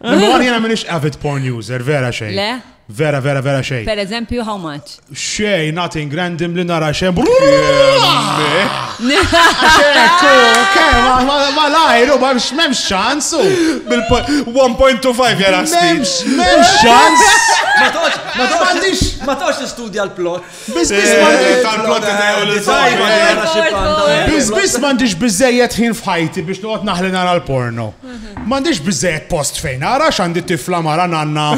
Mor jena minix avid porn user, vera xejn. Le? Vera, vera, vera xejn. Per eżempju, how much? Xejn, nothing random li nara xejn. Xekku, kema, ma lajru, ma memx ċansu. Bil-1.25 jena. Memx, memx ċans. Ma toċ, ma toċ, ma toċ studja l-plot. Bizbis mandiġ bizzejet ħin fħajti biex noqgħod naħli nara l-porno. Mandiġ bizzejet post fejn ara x'għandi tifla mara nanna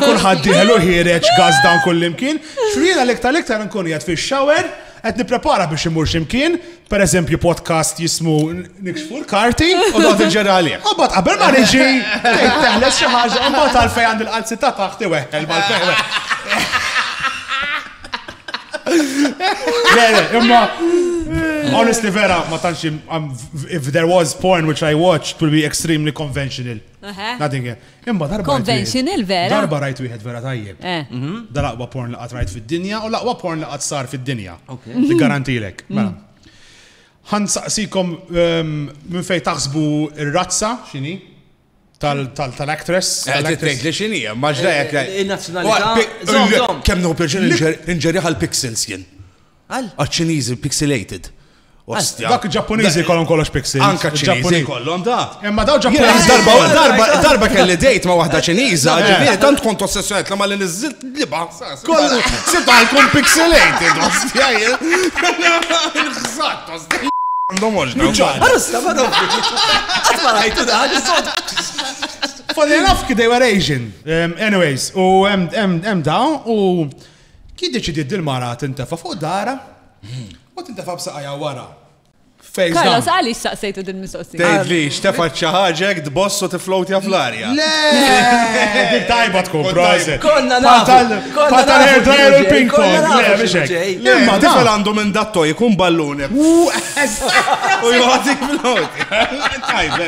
kulħadd diħlu ħireġ gaz dan kullimkien. Xriena l-iktar l-iktar nkun jgħid fix-shower qed nipprepara biex imur x'imkien, per eżempju podcast jismu Nikxfu l-karti u dot il-ġerra għalih. U bat qabel ma niġi, teħles xi ħaġa, u bat għalfej għand il-qalzi ta' taħti weħel mal-fejwe. Le, le, imma, honestly vera, ma tantx, if there was porn which I watched, it would be extremely conventional. Nothing, Imma darba. Conventional vera. Darba rajt wieħed vera tajjeb. Eh. Mhm. Dal-aqwa porn li qatt rajt fid-dinja u l-aqwa porn li qatt sar fid-dinja. Li garantilek. Mm. Mela. Ħan saqsikom ehm, minn fejn taħsbu ir-razza x'inhi tal-actress. Eh, Tal-actress li xini, maġda jek. Eh, il-nazzjonalità. Kemm nħu pjaċir inġerja għal pixels jien. Għal? Għaċ-Ċiniżi pixilated. Ostja. Dak il-Ġappuniżi jkollhom kollox pixels. Anka ċ-Ċiniżi jkollhom da. Imma daw Ġappuniżi. Darba, darba, darba kelli dejt ma' waħda Ċiniża, eh. ġifieri tant kont ossessjonat ma' li niżilt liba. Kollu, sibta jkun pixelated, ostja. X'sat, ostja. Għandhom oġna. Għarista, ma' daw. Għatma rajtu da, għal-sod. Funny enough, they were Asian. Um, anyways, u hemm daw u Kif deċidiet din mara tintefa' fuq darha u tintefa' b'saqajha wara? Carlos, għaliex saqsejtu din mistoqsija? Tgħidli, xtefa ċaħġek tboss u tiflowtja fl-arja. Le! Tajba tkun, proset. Konna nafu. Fatal hair dryer u ping pong. Le, biex hekk. Imma tifel għandu minn datto jkun ballune. U jgħatik fl-ħod. Tajba,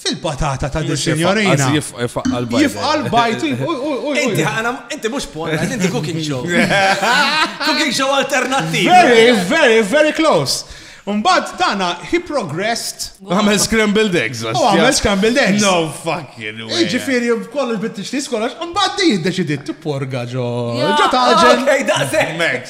Fil-patata ta' di signorina. Għazi jifqal bajt. Jifqal bajt. Inti ħana, inti mux porn, inti cooking show. Cooking show alternativ. Very, very, very close. Umbad dana, he progressed. Għamel scrambled eggs. U għamel scrambled eggs. No fucking way. Ġifiri, kollu l-bittix tis kollox, umbad di jiddeċidit t-porga ġo. Ġo taġen. Ej, daqsek. Max.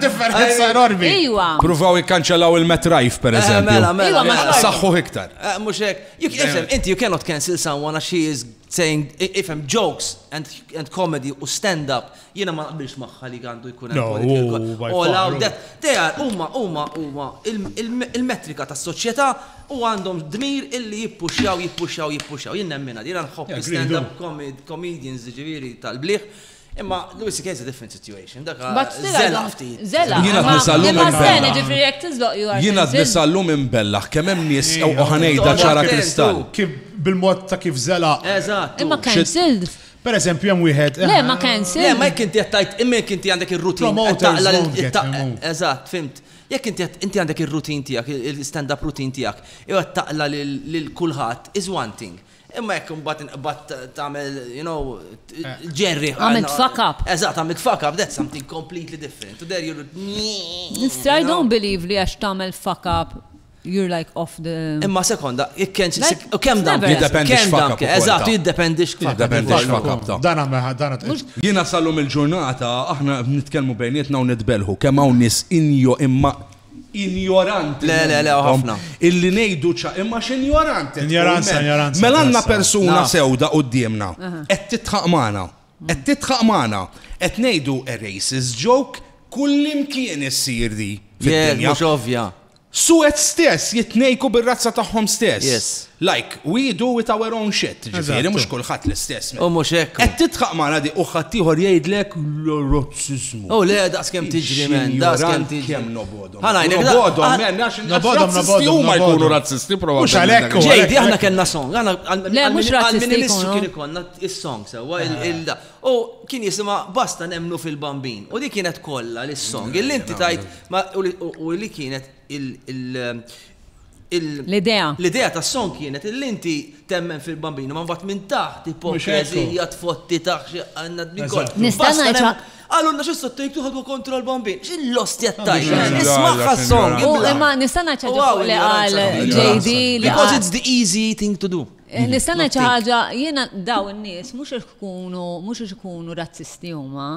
Differenza enormi. Iwa. Pruvaw ikkanċellaw il-Met Rajf, per eh, eżempju. Mela, mela, mela. Saħħu iktar. Eh, mux hekk. Jek ifem, eh. inti you cannot cancel someone as she is saying, ifem, jokes and, and comedy u stand-up, jena ma naqbilx maħħa li għandu jkun hemm oh, All out that. They are, umma, umma, umma, il-metrika ta' soċjetà u għandhom dmir illi jippuxjaw, jippuxjaw, jippuxjaw. Jien nemmina, jena nħobb stand-up comedians ġiviri tal-bliħ Imma Louis C.K. is a different situation, dak zela ftit. Zela. Jiena t-nisallum imbella. Jiena t-nisallum imbella, kemm hemm nies u ħanejda ċara kristall. Bil-mod ta' kif zela. Eżatt. Imma cancelled. Per eżempju, hemm wieħed. Le, ma cancelled. Le, ma jekk inti għattajt, imma jekk inti għandek ir-rutin. Eżatt, fimt. Jekk inti inti għandek ir-rutin tiegħek, il-stand-up rutin tiegħek, jew qed taqla lil kulħadd is one thing. Imma jekk imbagħad inqbad tagħmel, you know, ġerri. Għamil fuck up. Eżatt, għamil fuck up, that's something completely different. To there you're. I don't believe li għax tagħmel fuck up you're like off the. Imma sekonda, ikkenċ. U kem dan? Jiddependi xfakab. Eżat, jiddependi xfakab. Jiddependi xfakab. Dan għamma, dan Jina sallum il-ġurnata, aħna nitkelmu bejnietna u nitbelħu, kem għaw nis injo imma injoranti Le, le, le, u momentum ħafna. illi ngħidu ċa-, imma x'injoranti tkun, Injoranza, man. injoranza, Mela għandna injoranza. persuna Naf. sewda quddiemna, qed tidħaq magħna, qed tidħaq magħna, qed ngħidu a racist joke, kullimkien issir di Yes, fid-dinja. mhux ovvja. Sued stess jitnejku bir-razza tagħhom stess. Yes. Like we do with our own shit, ġifieri mhux kulħadd l-istess. U mhux hekk. Qed tidħaq magħna di u ħaddieħor jgħidlek l-razziżmu. U le daqskemm tiġri men, daqskemm tiġri. Kemm nobodhom. Ħana jgħidlek nobodhom men, għax nobodhom huma jkunu razzisti probabbli. Mhux għalhekk. Ġejdi aħna kellna song, Le mhux razzisti jkunu. Kien ikollna is-song sewwa il-da. U kien jisimha basta nemnu fil-bambin. U di kienet kollha l-song. Illi inti tajt u li kienet il- L-idea. L-idea tas-song kienet illi inti temmen fil-Bambino ma mbagħad minn taħt ipokrezija tfotti taħt xi għannad minn kont. Nista' ngħidha. Qalulna xi sottojtu ħadwa kontra l-Bambin. X'il-lost jattajx. Ismagħha s-song. Imma nista' ngħid xi ħaġa li qal JD li. Because it's the easy thing to do. Nista' ngħid xi ħaġa jiena dawn in-nies mhux ikunu mhux ikunu razzisti huma.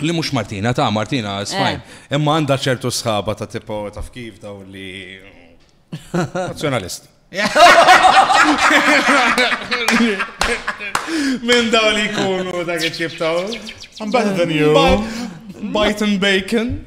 Li mux Martina, ta' Martina, smajn. Eh. Imma għanda ċertu sħaba ta' tipo ta' kif daw li. Nazjonalist. Minn daw li kunu dak iċibtaw. I'm better than you. Bite and bacon.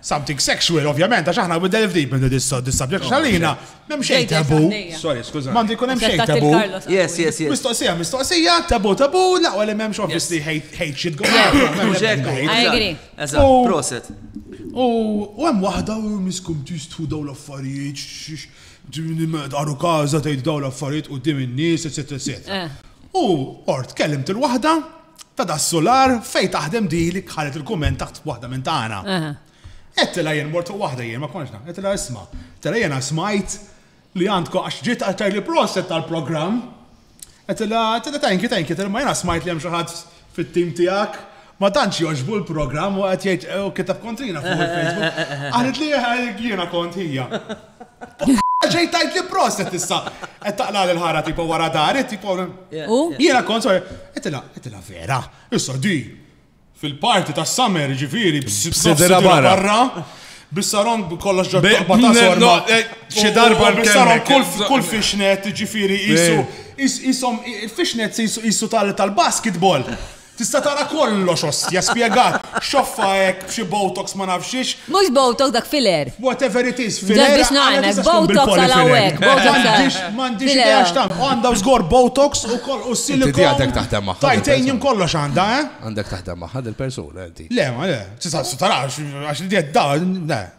Something sexual, ovvjament, għax aħna we delve deep into this this subject, għax għalina m'hemm xejn tabu. Sorry, skuża. M'għandu jkun hemm xejn tabu. Yes, yes, yes. Mistoqsija, mistoqsija, tabu, tabu, laqwa li m'hemmx obviously hate shit go. I agree. Eżatt, proset. U hemm waħda u miskum tistħu daw l-affarijiet, għaru kaza tgħid daw l-affarijiet u dim in-nies, eċetera, eċetera. Eh. U ort kellimt il-waħda ta' das-sular fejn taħdem din li ħallet il-kumment taħt waħda minn tagħna. Għedtilha jien mort fuq waħda jien ma kontx naf, għedtilha isma', għedtilha jiena smajt li għandkom għax ġiet għaltha li proset tal-programm. Għedtilha, għedtilha thank you, thank you, għedtilha ma jiena smajt li hemm xi ħadd fit-tim tiegħek ma tantx jogħġbu l-programm u qed jgħid u kiteb kontrina fuq il-Facebook. Qalet li jiena kont hija. Ġej tajt li proset issa. Qed taqla l-ħara tipo wara dari, tipo. Jiena kont sorry, qedilha, qedilha vera. Issa di fil-parti ta' summer ġifieri b'sidra barra. Bissaron kollox ġod taqba ta' sorma. Eh, xi darba bissaron kull fishnet ġifieri jisu. Jisom il-fishnet jisu tal-basketball. Tista' tara kollox ostja spjegat. Xoffa hekk b'xi botox ma nafx x'hix. Mhux botox dak filler. Whatever it is, filler. Ġa biex ngħinek, botox għal hawnhekk, botox għal. M'għandix idea x'tagħmel. Għandha żgur botox ukoll u silicone. Inti di għandek taħdem magħha. Titanium kollox għandha, eh? Għandek taħdem magħha dil-persuna inti. Le, ma le. Tista' tarax għax di qed tdawwar, le.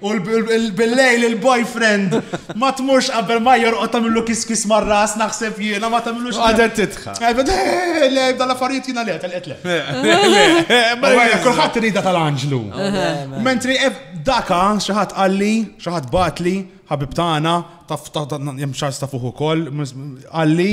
U bil-lejl il-boyfriend ma tmurx qabel ma jorqod tagħmlu kiskis mar-ras naħseb jiena ma tagħmlux. Għadet titħa. Le, dal-affarijiet jiena le, tal-qed le. Kulħadd rida tal-anġlu. Mentri eh, daka xi ħadd qalli, xi ħadd batli, ħabib tagħna, taf jem xars ta' fuq ukoll, qalli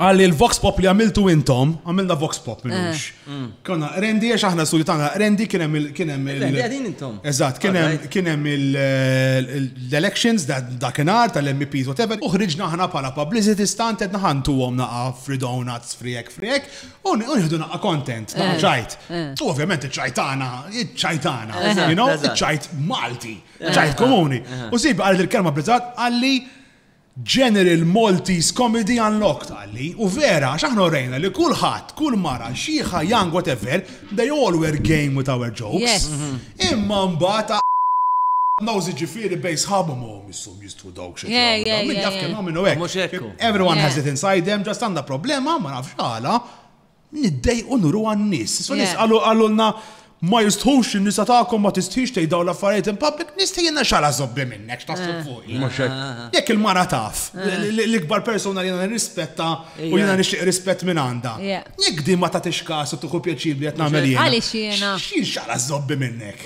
Għalli il-Vox Pop li għamiltu intom, għamilna Vox Pop minnux. Eh. Mm. Konna rendi, għax aħna studju tagħna rendi kien hemm kienem il- Rendi għadin intom. Eżatt, kien hemm l-elections dakinhar tal-MPs whatever, uħriġna aħna bħala publicity stunt qed naħantu għom naqa' free donuts, free egg, free egg, u nieħdu naqa' content, naqa' eh. ċajt. Eh. U ovvjament iċ-ċajtana, iċ-ċajtana, iċ-ċajt Malti, ċajt komuni. U sib għal il-kelma blizzat għalli General Maltese Comedy Unlocked qalli, u vera għax aħna urejna li kulħadd, kull mara, xiħa, young, whatever, they all were game with our jokes. Imma mbagħad a knows jiġifieri bejn sħabhom oh misshom jistħu dawk x'qed jagħmlu dawn, min jaf kemm hawn min hu hekk. Everyone has it inside them, just għandna problema, ma nafx għala, Niddejqu nuru għan-nies. So nies qalu qalulna ma jistħux in-nisa tagħkom ma tistħix tgħid dawn l-affarijiet in public, nistħi jiena xala żobbi minnek x'taħseb eh. fuq. Ah, ah, ah. Jekk il-mara taf, eh. l-ikbar persuna li jiena nirrispetta u jiena nixtieq rispett minn għandha. Jekk din ma tagħtix każ u tieħu pjaċir li qed nagħmel jiena. Għaliex jiena. X'jien xala żobbi minnek.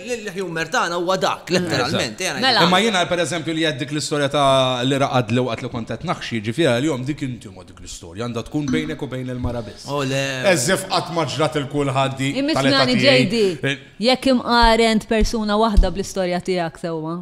L-humor tagħna huwa dak, letteralment. Mela. Imma jiena pereżempju li għedt dik l-istorja ta' li raqadli waqt li kont qed naħxi, ġifieri għalihom dik intima dik l-istorja, għandha tkun bejnek u bejn il-mara biss. O le. As if qatt ma ġrat 'il kulħadd di tal-età tiegħi. Imma smigħni JD, jekk imqaren t'persuna waħda bl-istorja tiegħek sewwa.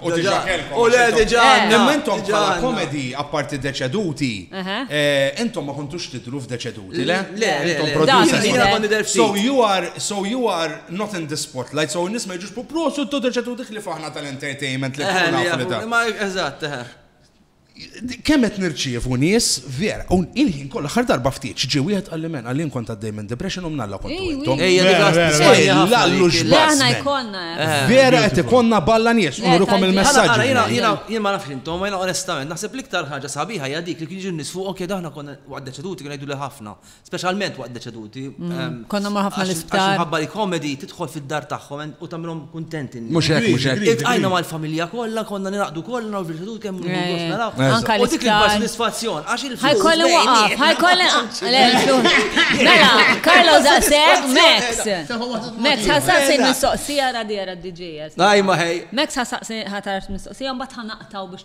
U diġa kellkom. U le diġa. Imma intom bħala komedi, apparti deċeduti, intom ma kontux tidru f'deċeduti, le? Le, intom producer. So you are, so you are not in the spotlight, so n-nis ma jġux pu prosu t-tu deċeduti li faħna tal-entertainment li faħna. Ma eżatt, eħe. Kemm qed nirċievu nies vera u il-ħin kollu aħħar darba ftit x'ġie wieħed qalli amen qalli jien kont għaddej minn depression u mnalla kontu intom. Ejja dik għax tisbajja ħafna. Le aħna jkollna hekk. Vera qed ikollna balla nies u nurikom il-messaġġi. Jien ma nafx intom imma onestament naħseb l-iktar ħaġa sabiħa hija dik li kienu jiġu nies fuqok jgħidu aħna konna waqt deċeduti kienu jgħiduli ħafna Speċjalment waqt deċeduti. Konna mar ħafna l-isptar. Għax minħabba li komedi tidħol fid-dar tagħhom u tagħmilhom kuntenti. Mhux hekk, mhux hekk. Iltqajna mal-familja kollha, konna nilaqdu kollha u l-deċedut kemm nħoss naraw. Anka l-isptar. U dik il-sodisfazzjon għax il-flus. Ħajkolli waqaf, ħajkolli. Mela, Carlo Zasek, Max. Max ħasaqsi mistoqsija radi għara d-DJS. Najma ħej. Max ħasaqsi ħatar mistoqsija mbagħad ħanaqtaw biex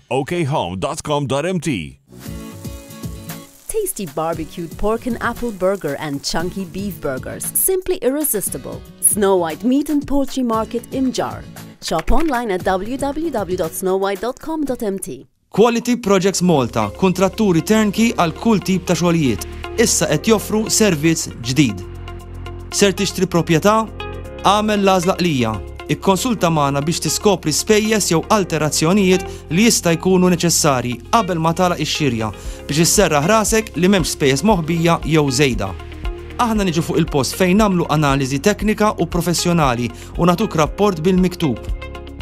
okhome.com.mt Tasty barbecued pork and apple burger and chunky beef burgers, simply irresistible. Snow White Meat and Poultry Market Imjar. Shop online at www.snowwhite.com.mt. Quality Projects Malta, kontratturi turnkey għal kull tip ta' xogħlijiet, issa qed joffru servizz ġdid. Ser tixtri proprjetà? Għamel l-għażla qlija Ikkonsulta magħna biex tiskopri spejjeż jew alterazzjonijiet li jista' jkunu neċessarji qabel ma tagħlaq ix-xirja biex isserraħ rasek li m'hemmx spejjeż moħbija jew żejda. Aħna niġu fuq il-post fejn nagħmlu analiżi teknika u professjonali u nagħtuk rapport bil-miktub.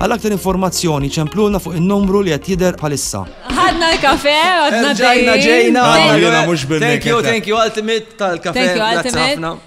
Għal aktar informazzjoni ċemplulna fuq in-numru li qed jidher bħalissa. Ħadna l-kafe, għadna Ġajna ġejna. Thank you, thank you Ultimate tal-kafe. Thank you Ultimate.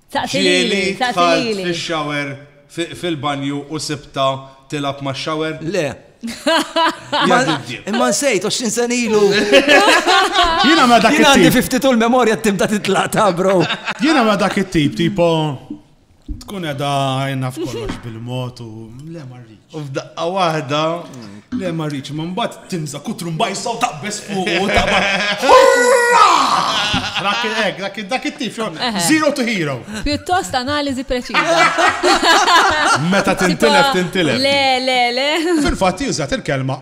Ġieli dħalt fix-shower fil-banju u sibta tilgħab max-shower? Le. Imma nsejt 20 sen ilu. Jiena ma dak. Jiena għandi 50 tul memorja tibda titlaq ta' bro. Jiena ma dak it-tip, tipo tkun edha naf kollox bil-mod u le marri. U f'daqqa waħda. Le ma rridx, ma mbagħad timża kutru mbajsa u taqbeż fuq u taqbad. Hurra! Dak il-hekk, dak il- dak it-tif, zero to hero. Pjuttost analiżi preċiża. Meta tintilef, tintilef. Le, le, le. Fil-fatt jużat il-kelma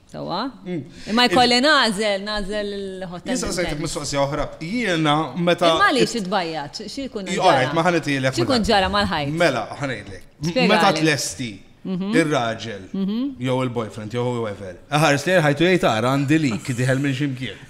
Sawa? Mm. Imma jkolli nażel, nażel il-hotel. Nisa sejtek mistoqsija oħra. Jiena meta. Imma li xidbajjat, xi jkun ġara. Alright, ma ħanitilek. Xi jkun ġara mal-ħajt. Mela, ħanejlek. Meta tlesti mhm. ir-raġel, mhm. jew il-boyfriend, jew whoever. Ħares li ħajtu jgħid ara għandi lik diħel minn ximkien.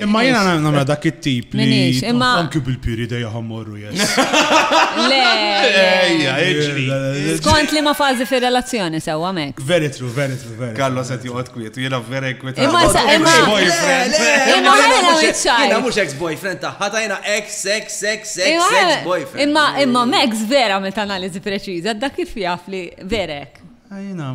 Imma jena namra dak it-tip li. Anki bil-piri dejja ħammorru jess. Le. Ejja, iġri. Skont li ma fazi fi relazzjoni sewa mek. Very true, very true, very. Kallo se tiqgħod kwiet, jena vera kwiet. Imma sa imma boyfriend. Imma ħana iċċaj. Jena mhux ex boyfriend tagħha ta' jena ex sex sex sex sex boyfriend. Imma imma Max vera meta analiżi preċiża dak kif jaf li verek.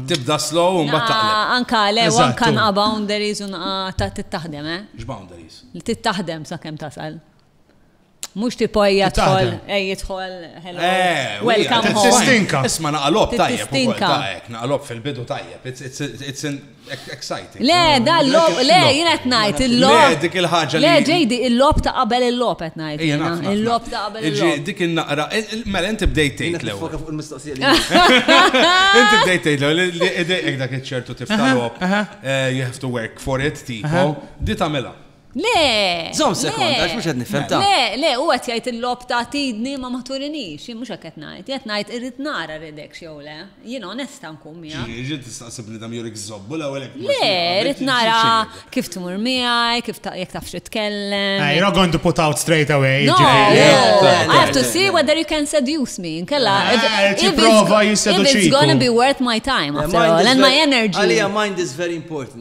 Tibda slow u mbagħad taqleb. Anka le, u anka nqa' boundaries u nqa' ta' tittaħdem, eh? X'boundaries? Tittaħdem sakemm tasal. Mhux tipo ejja tħol, ejja tħol, hello. Eh, welcome home. Tistinka. Isma' naqalob tajjeb. Tistinka. Naqalob fil-bidu tajjeb. Le, da l-lob, le, jien qed ngħid il-lob. Le, dik il-ħaġa li. Le, ġejdi, il-lob ta' qabel il-lob qed ngħid. Il-lob ta' qabel il-lob. Ġi, dik il-naqra, mela inti bdejt tgħid l-ewwel. Foka fuq il-mistoqsija li. Inti bdejt tgħid l-ewwel li idejk dak iċ-ċertu tifta' lob, you have to work for it, tipo, di tagħmilha. Le! Zom sekond, għax mhux qed nifhem ta. Le, le, u qed jgħid il-logħob ta' tidni ma ma turinix, jien mhux hekk qed ngħid, qed ngħid irrid nara rridekx jew le. Jien onesta nkun miegħek. Ġifieri rrid tistaqsi bniedem jew jrid iżżobbu l-ewwel hekk. Le, rrid nara kif tmur miegħi, kif jekk tafx titkellem. You're not going to put out straight away. No, I have to see whether you can seduce me. Inkella. Tipprova jisseduċiku. It's gonna be worth my time after all and my energy. Għalija mind is very important.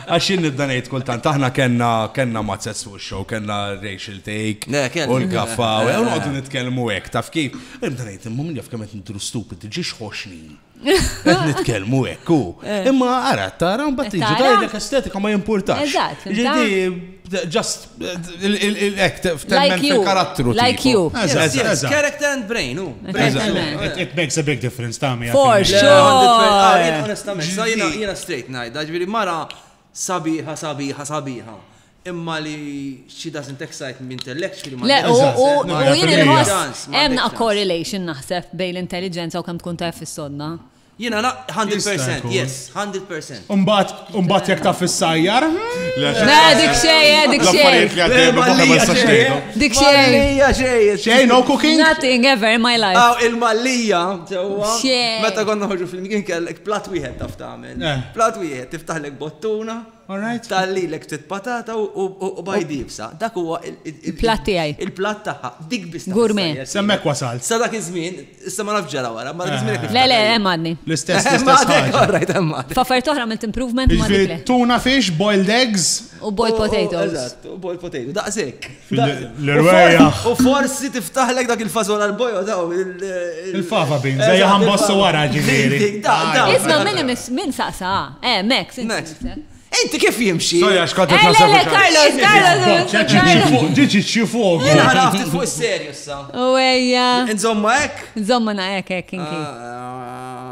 Għax jien nibda ngħid kultant aħna kellna kellna mazzez fuq ix-show, kellna racial take Le, kellna. u l-gaffa u u noqogħdu nitkellmu hekk, taf kif? U Nibda ngħid imma min jaf kemm qed nidhru stupid, ġiex ħoxni. Qed nitkellmu hekk u. Imma ara, tara mbagħad jiġu Tara? tgħidlek estetika ma jimpurtax. Eżatt, fimta? Ġifieri, just Ek, temmen fil-karattru. Like you. Character and brain, u. It makes a big difference, ta' mi. For sure. Onestament, sa' jina, jina straight najda, ġviri mara sabiħa, sabiħa, sabiħa. Imma li she doesn't excite me intellectually. Le, u jina nħoss, hemm a correlation naħseb bejn l-intelligenza u kemm tkun tajf fis-sodna. Jiena na 100%, yes, 100%. Umbat, umbat jek ta' fissajjar. Le, dik xej, eh, dik xej. Dik xej. Xej, no cooking? Nothing ever in my life. Aw, il-mallija, ġewwa. Meta konna ħoġu fil-mkien kellek plat wieħed taf tagħmel. Eh. Plat wieħed, tiftaħlek bottuna. Tal lilek ftit patata u bajd iebsa. Dak huwa il. Il-platt tiegħi. Il-platt tagħha. Dik biss. Gourmet. Sa hemmhekk wasalt. Sa dak iż-żmien, issa ma nafx ġara wara, imma dak iż-żmien hekk. Le, le, hemm għadni. L-istess, l-istess ħaġa. All right, hemm għadni. F'affarijiet oħra għamilt improvement ma nifhimx. Tuna fish, boiled eggs. U boiled potatoes. Eżatt, u boiled potatoes. Daqshekk. L-erwejaħ. U forsi tiftaħlek dak il-fazola l-bojo daw. Il-fava bin, zajja ħambossu wara ġiviri. Isma minn minn saqsa, eh, Max. Max. Inti kif jimxi? Soja, xkont qed nasab. Eh, Carlos, Carlos. Ġiġi ċifog. Jena ħaraf fuq is-serju sa. U ejja. Nżomma hekk? Nżomma na hekk hekk inki. Ah,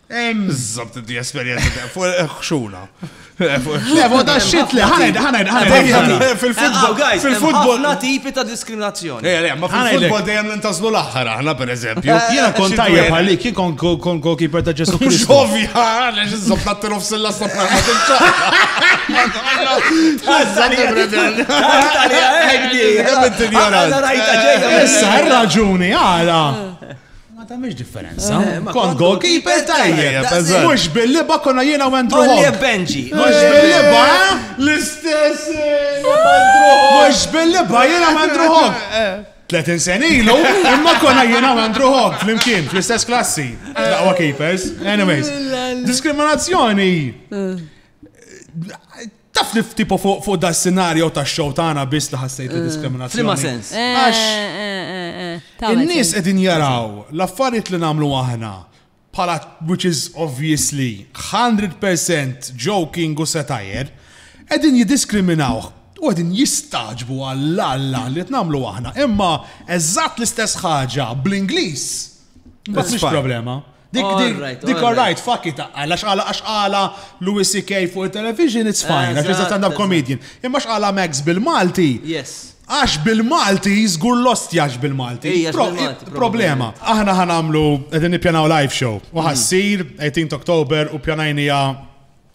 Mżob tinti esperienza ta' fuq il-ħxuna. Fuq ta' xit li ħaned, ħaned, ħaned. Fil-futbol, fil-futbol. Na tipi ta' diskriminazzjoni. Ejja, le, ma fil-futbol dejjem nintaslu l-aħħar aħna, per eżempju. Jiena kont tajjeb għalik, jien kont kon goalkeeper ta' Ġesu Kristu. Xovja, għaliex iżob ta' tilu f'silla s-sopra. Issa, raġuni, għala. Ma tamiex differenza. Eh, kont goalkeeper tajjeb. Mux bil-liba konna jiena u Andrew Hall. Benji. Mux eh, bil-liba, eh? l-istess. Mux bil-liba jiena u Andrew Hall. 30 sena ilu, imma konna jiena u Andrew Hall fl-imkien, fl-istess klassi. Daqwa keepers. Anyways, diskriminazzjoni. Taf li f'tipu fuq da s-sinarju ta' xow tagħna biss li ħassejt eh, diskriminazzjoni. Flima sens. Għax. Eh, eh, in-nies qegħdin jaraw l-affarijiet li nagħmlu aħna bħala which is obviously 100% joking u setajer, qegħdin jiddiskriminaw u għedin jistaġbu għall-alla li t-namlu aħna. Imma eżatt l-istess ħaġa bl-Inglis. Bas problema. Dik dik dik alright, fuck it, għala xqala għax għala Louis C.K. fuq il-television, it's fine, għax iżda stand-up comedian. Imma xqala Max bil-Malti. Yes. Għax bil-Malti, zgur lost jax bil-Malti. Problema. Aħna ħanamlu, edin nipjanaw live show. U ħassir, 18 Oktober, u pjanajnija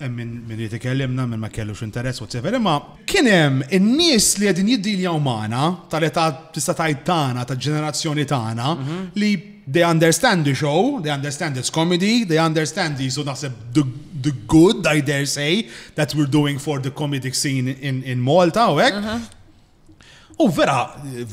hemm min min irid ikellimna, min ma kellux interess, whatsoever, imma kien hemm in-nies li qegħdin jiddiljaw magħna tal-età tista' tgħid tagħna, tal-ġenerazzjoni tagħna, li they understand the show, they understand it's comedy, they understand these u naħseb the, the good, I dare say, that we're doing for the comedic scene in, in Malta u hekk. U vera,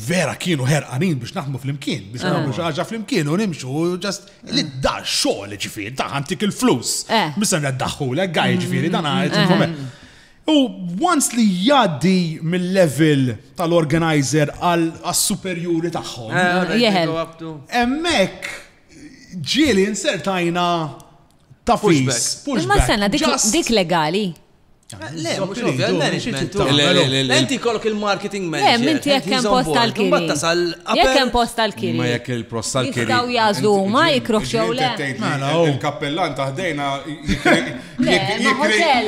vera kienu ħerqanin biex naħmu fl-imkien, biex ah. naħmu xaġa fl-imkien u nimxu, ġast li ah. da xogħol ġifieri, da ħantik il-flus. Eh. Misa daħħu l għaj ġifieri, dan għajt mm-hmm. mm-hmm. U once li jaddi mill-level tal-organizer għal superjuri tagħhom. Eh, Emmek ġieli insertajna Tafis. Imma sena dik legali. Le, mux ovvja, il-management. Enti kolok il-marketing manager. Le, minti jek kem post tal-kiri. Jek kem post tal-kiri. Ma jek il-post tal-kiri. Jistaw jazlu ma jikruħ xew le. Mela, oh. Il-kappellan taħdejna jikri. Le, ma hotel.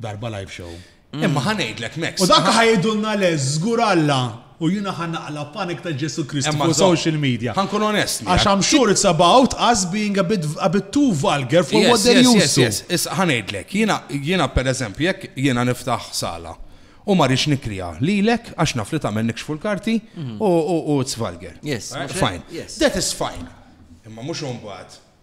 Darba live show. Imma ħa ngħidlek Max. U dak ħajdulna le żgur Alla u jiena ħa naqla panik ta' Ġesu Kristu Imma fuq zo- social media. Ħankun onest miegħek. Għax I'm sure it's about us being a bit, a bit too vulgar for what they're yes, used to. yes. Issa ħanejdlek, jiena jiena pereżempju jekk jiena niftaħ sala u ma rridx nikrija lilek għax naf li tagħmel nikxfu l-karti u u u it's vulgar. Mhm. Yes, Eh, mhux hekk? Fine. Yes. That is fine. Imma mhux imbagħad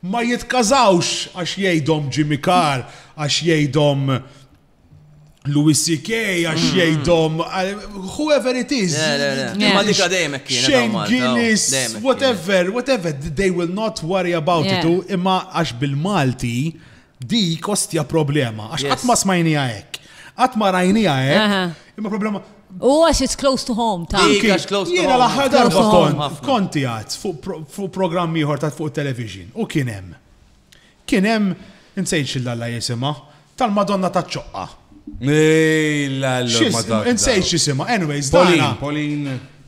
Ma jitkażawx għax jgħidhom Jimmy Carr, għax jgħidhom Louis CK għax mm. jgħidhom whoever it is. Ma dika dejjem kienet. Shane Guinness, whatever, whatever, they will not worry about it. Imma għax bil-Malti Dik ostja problema, għax qatt ma smajnija hekk. Qatt ma rajnija hekk. Imma problema. U għax it's close to home, ta' Jiena l-aħħar darba kont konti għad fuq programm ieħor ta' fuq television u kien hemm. Kien hemm insejn xillalla jisimha tal-Madonna ta' ċoqqa. Insejn xisima, anyways, Pauline, Pauline.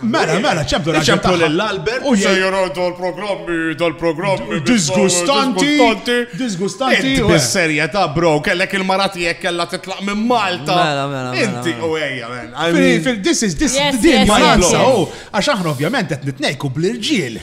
Mela, mela, ċemplu l-albert. ċemplu l-albert. U se jaraw dal-programmi, dal-programmi. Disgustanti. Disgustanti. Inti bis-serja ta' bro, kellek il-marati jek kella titlaq minn Malta. Mela, mela. mela Inti mela. u ejja, men. This is, this is, din Malta. Għax aħna ovvjament qed nitnejku bl-irġiel.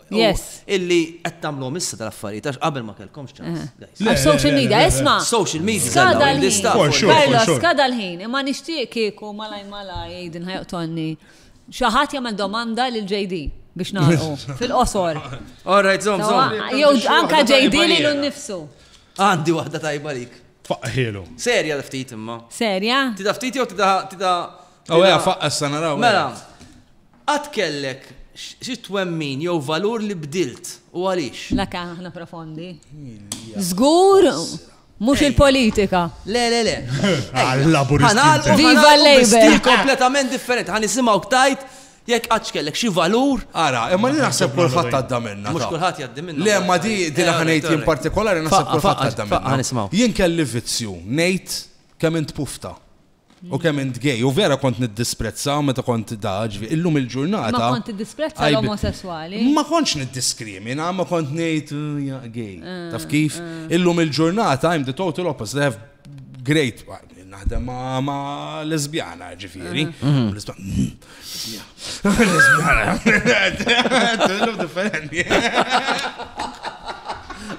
Yes. Illi qed tagħmluhom issa tal-affarijiet għax qabel ma kellkomx ċans. Għax social media, isma'. Social media. Skada l-ħin. Karlo, skada l-ħin. Imma nixtieq kieku malaj malaj jgħidin ħajqtonni. Xi ħadd jagħmel domanda lil JD biex nagħlqu fil-qosor. All right, zom, zom. Jew anka JD li l-nifsu. Għandi waħda tajba lik. Faqqħilu. Serja da ftit imma. Serja? Tida ftit jew tida tida. Aw oh, ja faqqa s-sanaraw. Mela. Qatt kellek xi twemmin jew valur li bdilt, u għaliex? La kemm aħna profondi. Żgur mhux il-politika. Le, le, le. Ħanagħlqu. Viva l-Labour! Stil kompletament differenti. Ħa nisimgħuk tgħid jekk qattx kellek xi valur. Ara, imma li naħseb kulħadd għadda minnha. Mhux kulħadd jgħaddi minnha. Le, imma di din aħna ngħid jien partikolari naħseb kulħadd għadda minnha. Jien kelli vizzju ngħid kemm int pufta. U kemm int gay, u vera kont niddisprezza meta kont da, ġvi, illum il-ġurnata. Ma kont tiddisprezza l-omosessuali? Ma kontx niddiskrimina, ma kont ngħid ja gay. Ah, Taf kif? Ah. Illum il-ġurnata I'm the total opposite. I have great naħdem ma' lesbjana, ġifieri. Ah. Mm-hmm.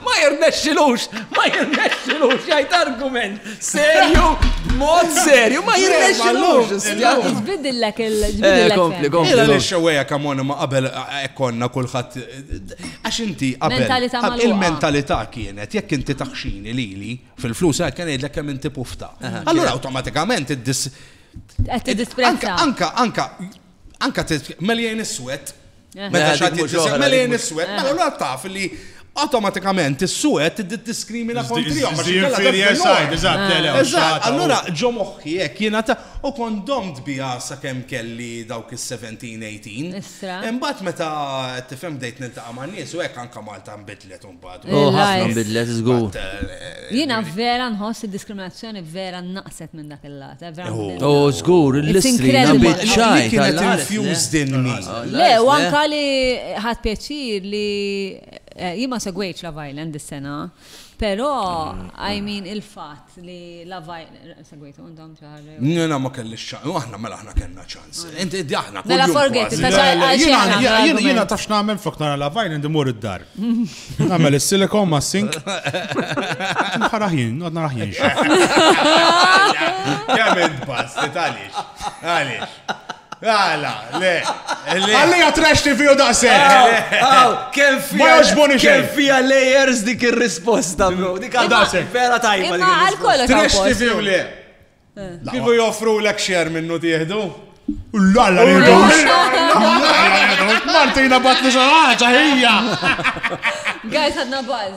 Ma jirnexxilux, ma jirnexxilux, jgħid argument. Serju, mod serju, ma jirnexxilux. Tbidillek il-ġbidillek. Kompli, kompli. Ila li xewweja kamona ma qabel ekkonna kulħadd. Għax inti qabel. Il-mentalità kienet, jekk inti taħxini lili fil-flus, għal kien jgħidlek kemm inti pufta. Allura automatikament id-dis Qed tiddisprezza. Anka, anka, anka meljejn is-swed. Eh. Meta xatt jiġġisem meljejn is-swed, eh. mela l taf li automatikament is-suwed tiddiskrimina kontrihom. Eżatt, allura ġo moħħi hekk jiena ta' u kont domt biha sakemm kelli dawk is-17-18. Imbagħad meta tifhem bdejt niltaqa' man-nies u hekk anke Malta nbidlet u Oh, ħafna nbidlet żgur. Jiena vera nħoss id-diskriminazzjoni vera naqset minn dak il-lat. Oh, żgur, l-istrina biċċaj. Kienet infused in me. Le, u anka li ħadd pjaċir li jien ma segwejtx la Violent dis-sena, però I mean il-fatt li lavaj, segwitu, għandhom ċaħar. Nina ma kelli ċaħar, aħna mela aħna kellna ċans. Inti id aħna. Mela forget, jina tafx namel flok nara lavaj, indi mur id-dar. Namel il-silikon ma sink. Nħaraħin, għadna raħin. Kemm id-bas, għalix, għalix. Għala, le. Għalli għatrax TV u daqseg. Kem fija. Ma joġboni xejn. Kem fija layers dik il-risposta, bro. Dik għadraseg. Vera tajba. Imma għal kollox. Trash TV u le. Kifu joffru l-ek xer minnu tieħdu? Ullalla, Martina batni xaħġa, hija. Guys, għadna baz.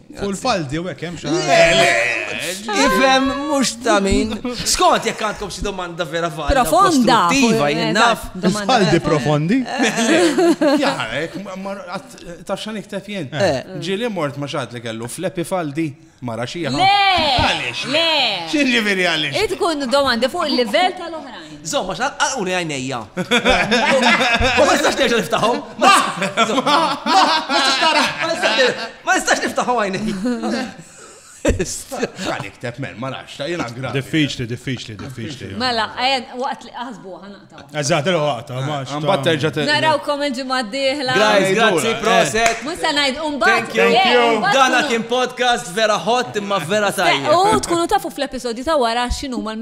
Full faldi u hekk hemm xi Ifhem mhux ta' min. Skont jekk għandkom xi domanda vera falda. Profonda. Tiva jien naf. Faldi profondi. Jarek, ta' xan iktef jien. Eh. Eh. Ġili mort ma xad li kellu flepi faldi mara xi Le! Għaliex? Le! Xi ġifieri għaliex? Tkun domandi fuq il-livell tal-oħrajn. Żomm, għax għalquni għajnejja. U ma nistax terġa' niftaħhom. Ma! Ma! Ma nistax tara! Ma nistax terġa'. Ma nistax niftaħhom għajnejja. X'għal ikteb men, ma nafx, ta' jiena gravi. Diffiċli, diffiċli, diffiċli. Mela, għajn, waqt li aħsbu ħanaqtaw. Eżatt, il waqta, ma nafx. Mbagħad terġa' terġa'. Narawkom il-ġimgħa d-dieħla. Guys, grazzi, proset. Mhux se ngħid u mbagħad. Thank you. Dan kien podcast vera hot imma vera tajjeb. U tkunu tafu fl-episodju ta' wara x'inhuma l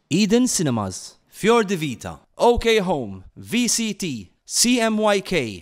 Eden Cinemas, Fior di Vita, OK Home, VCT, CMYK,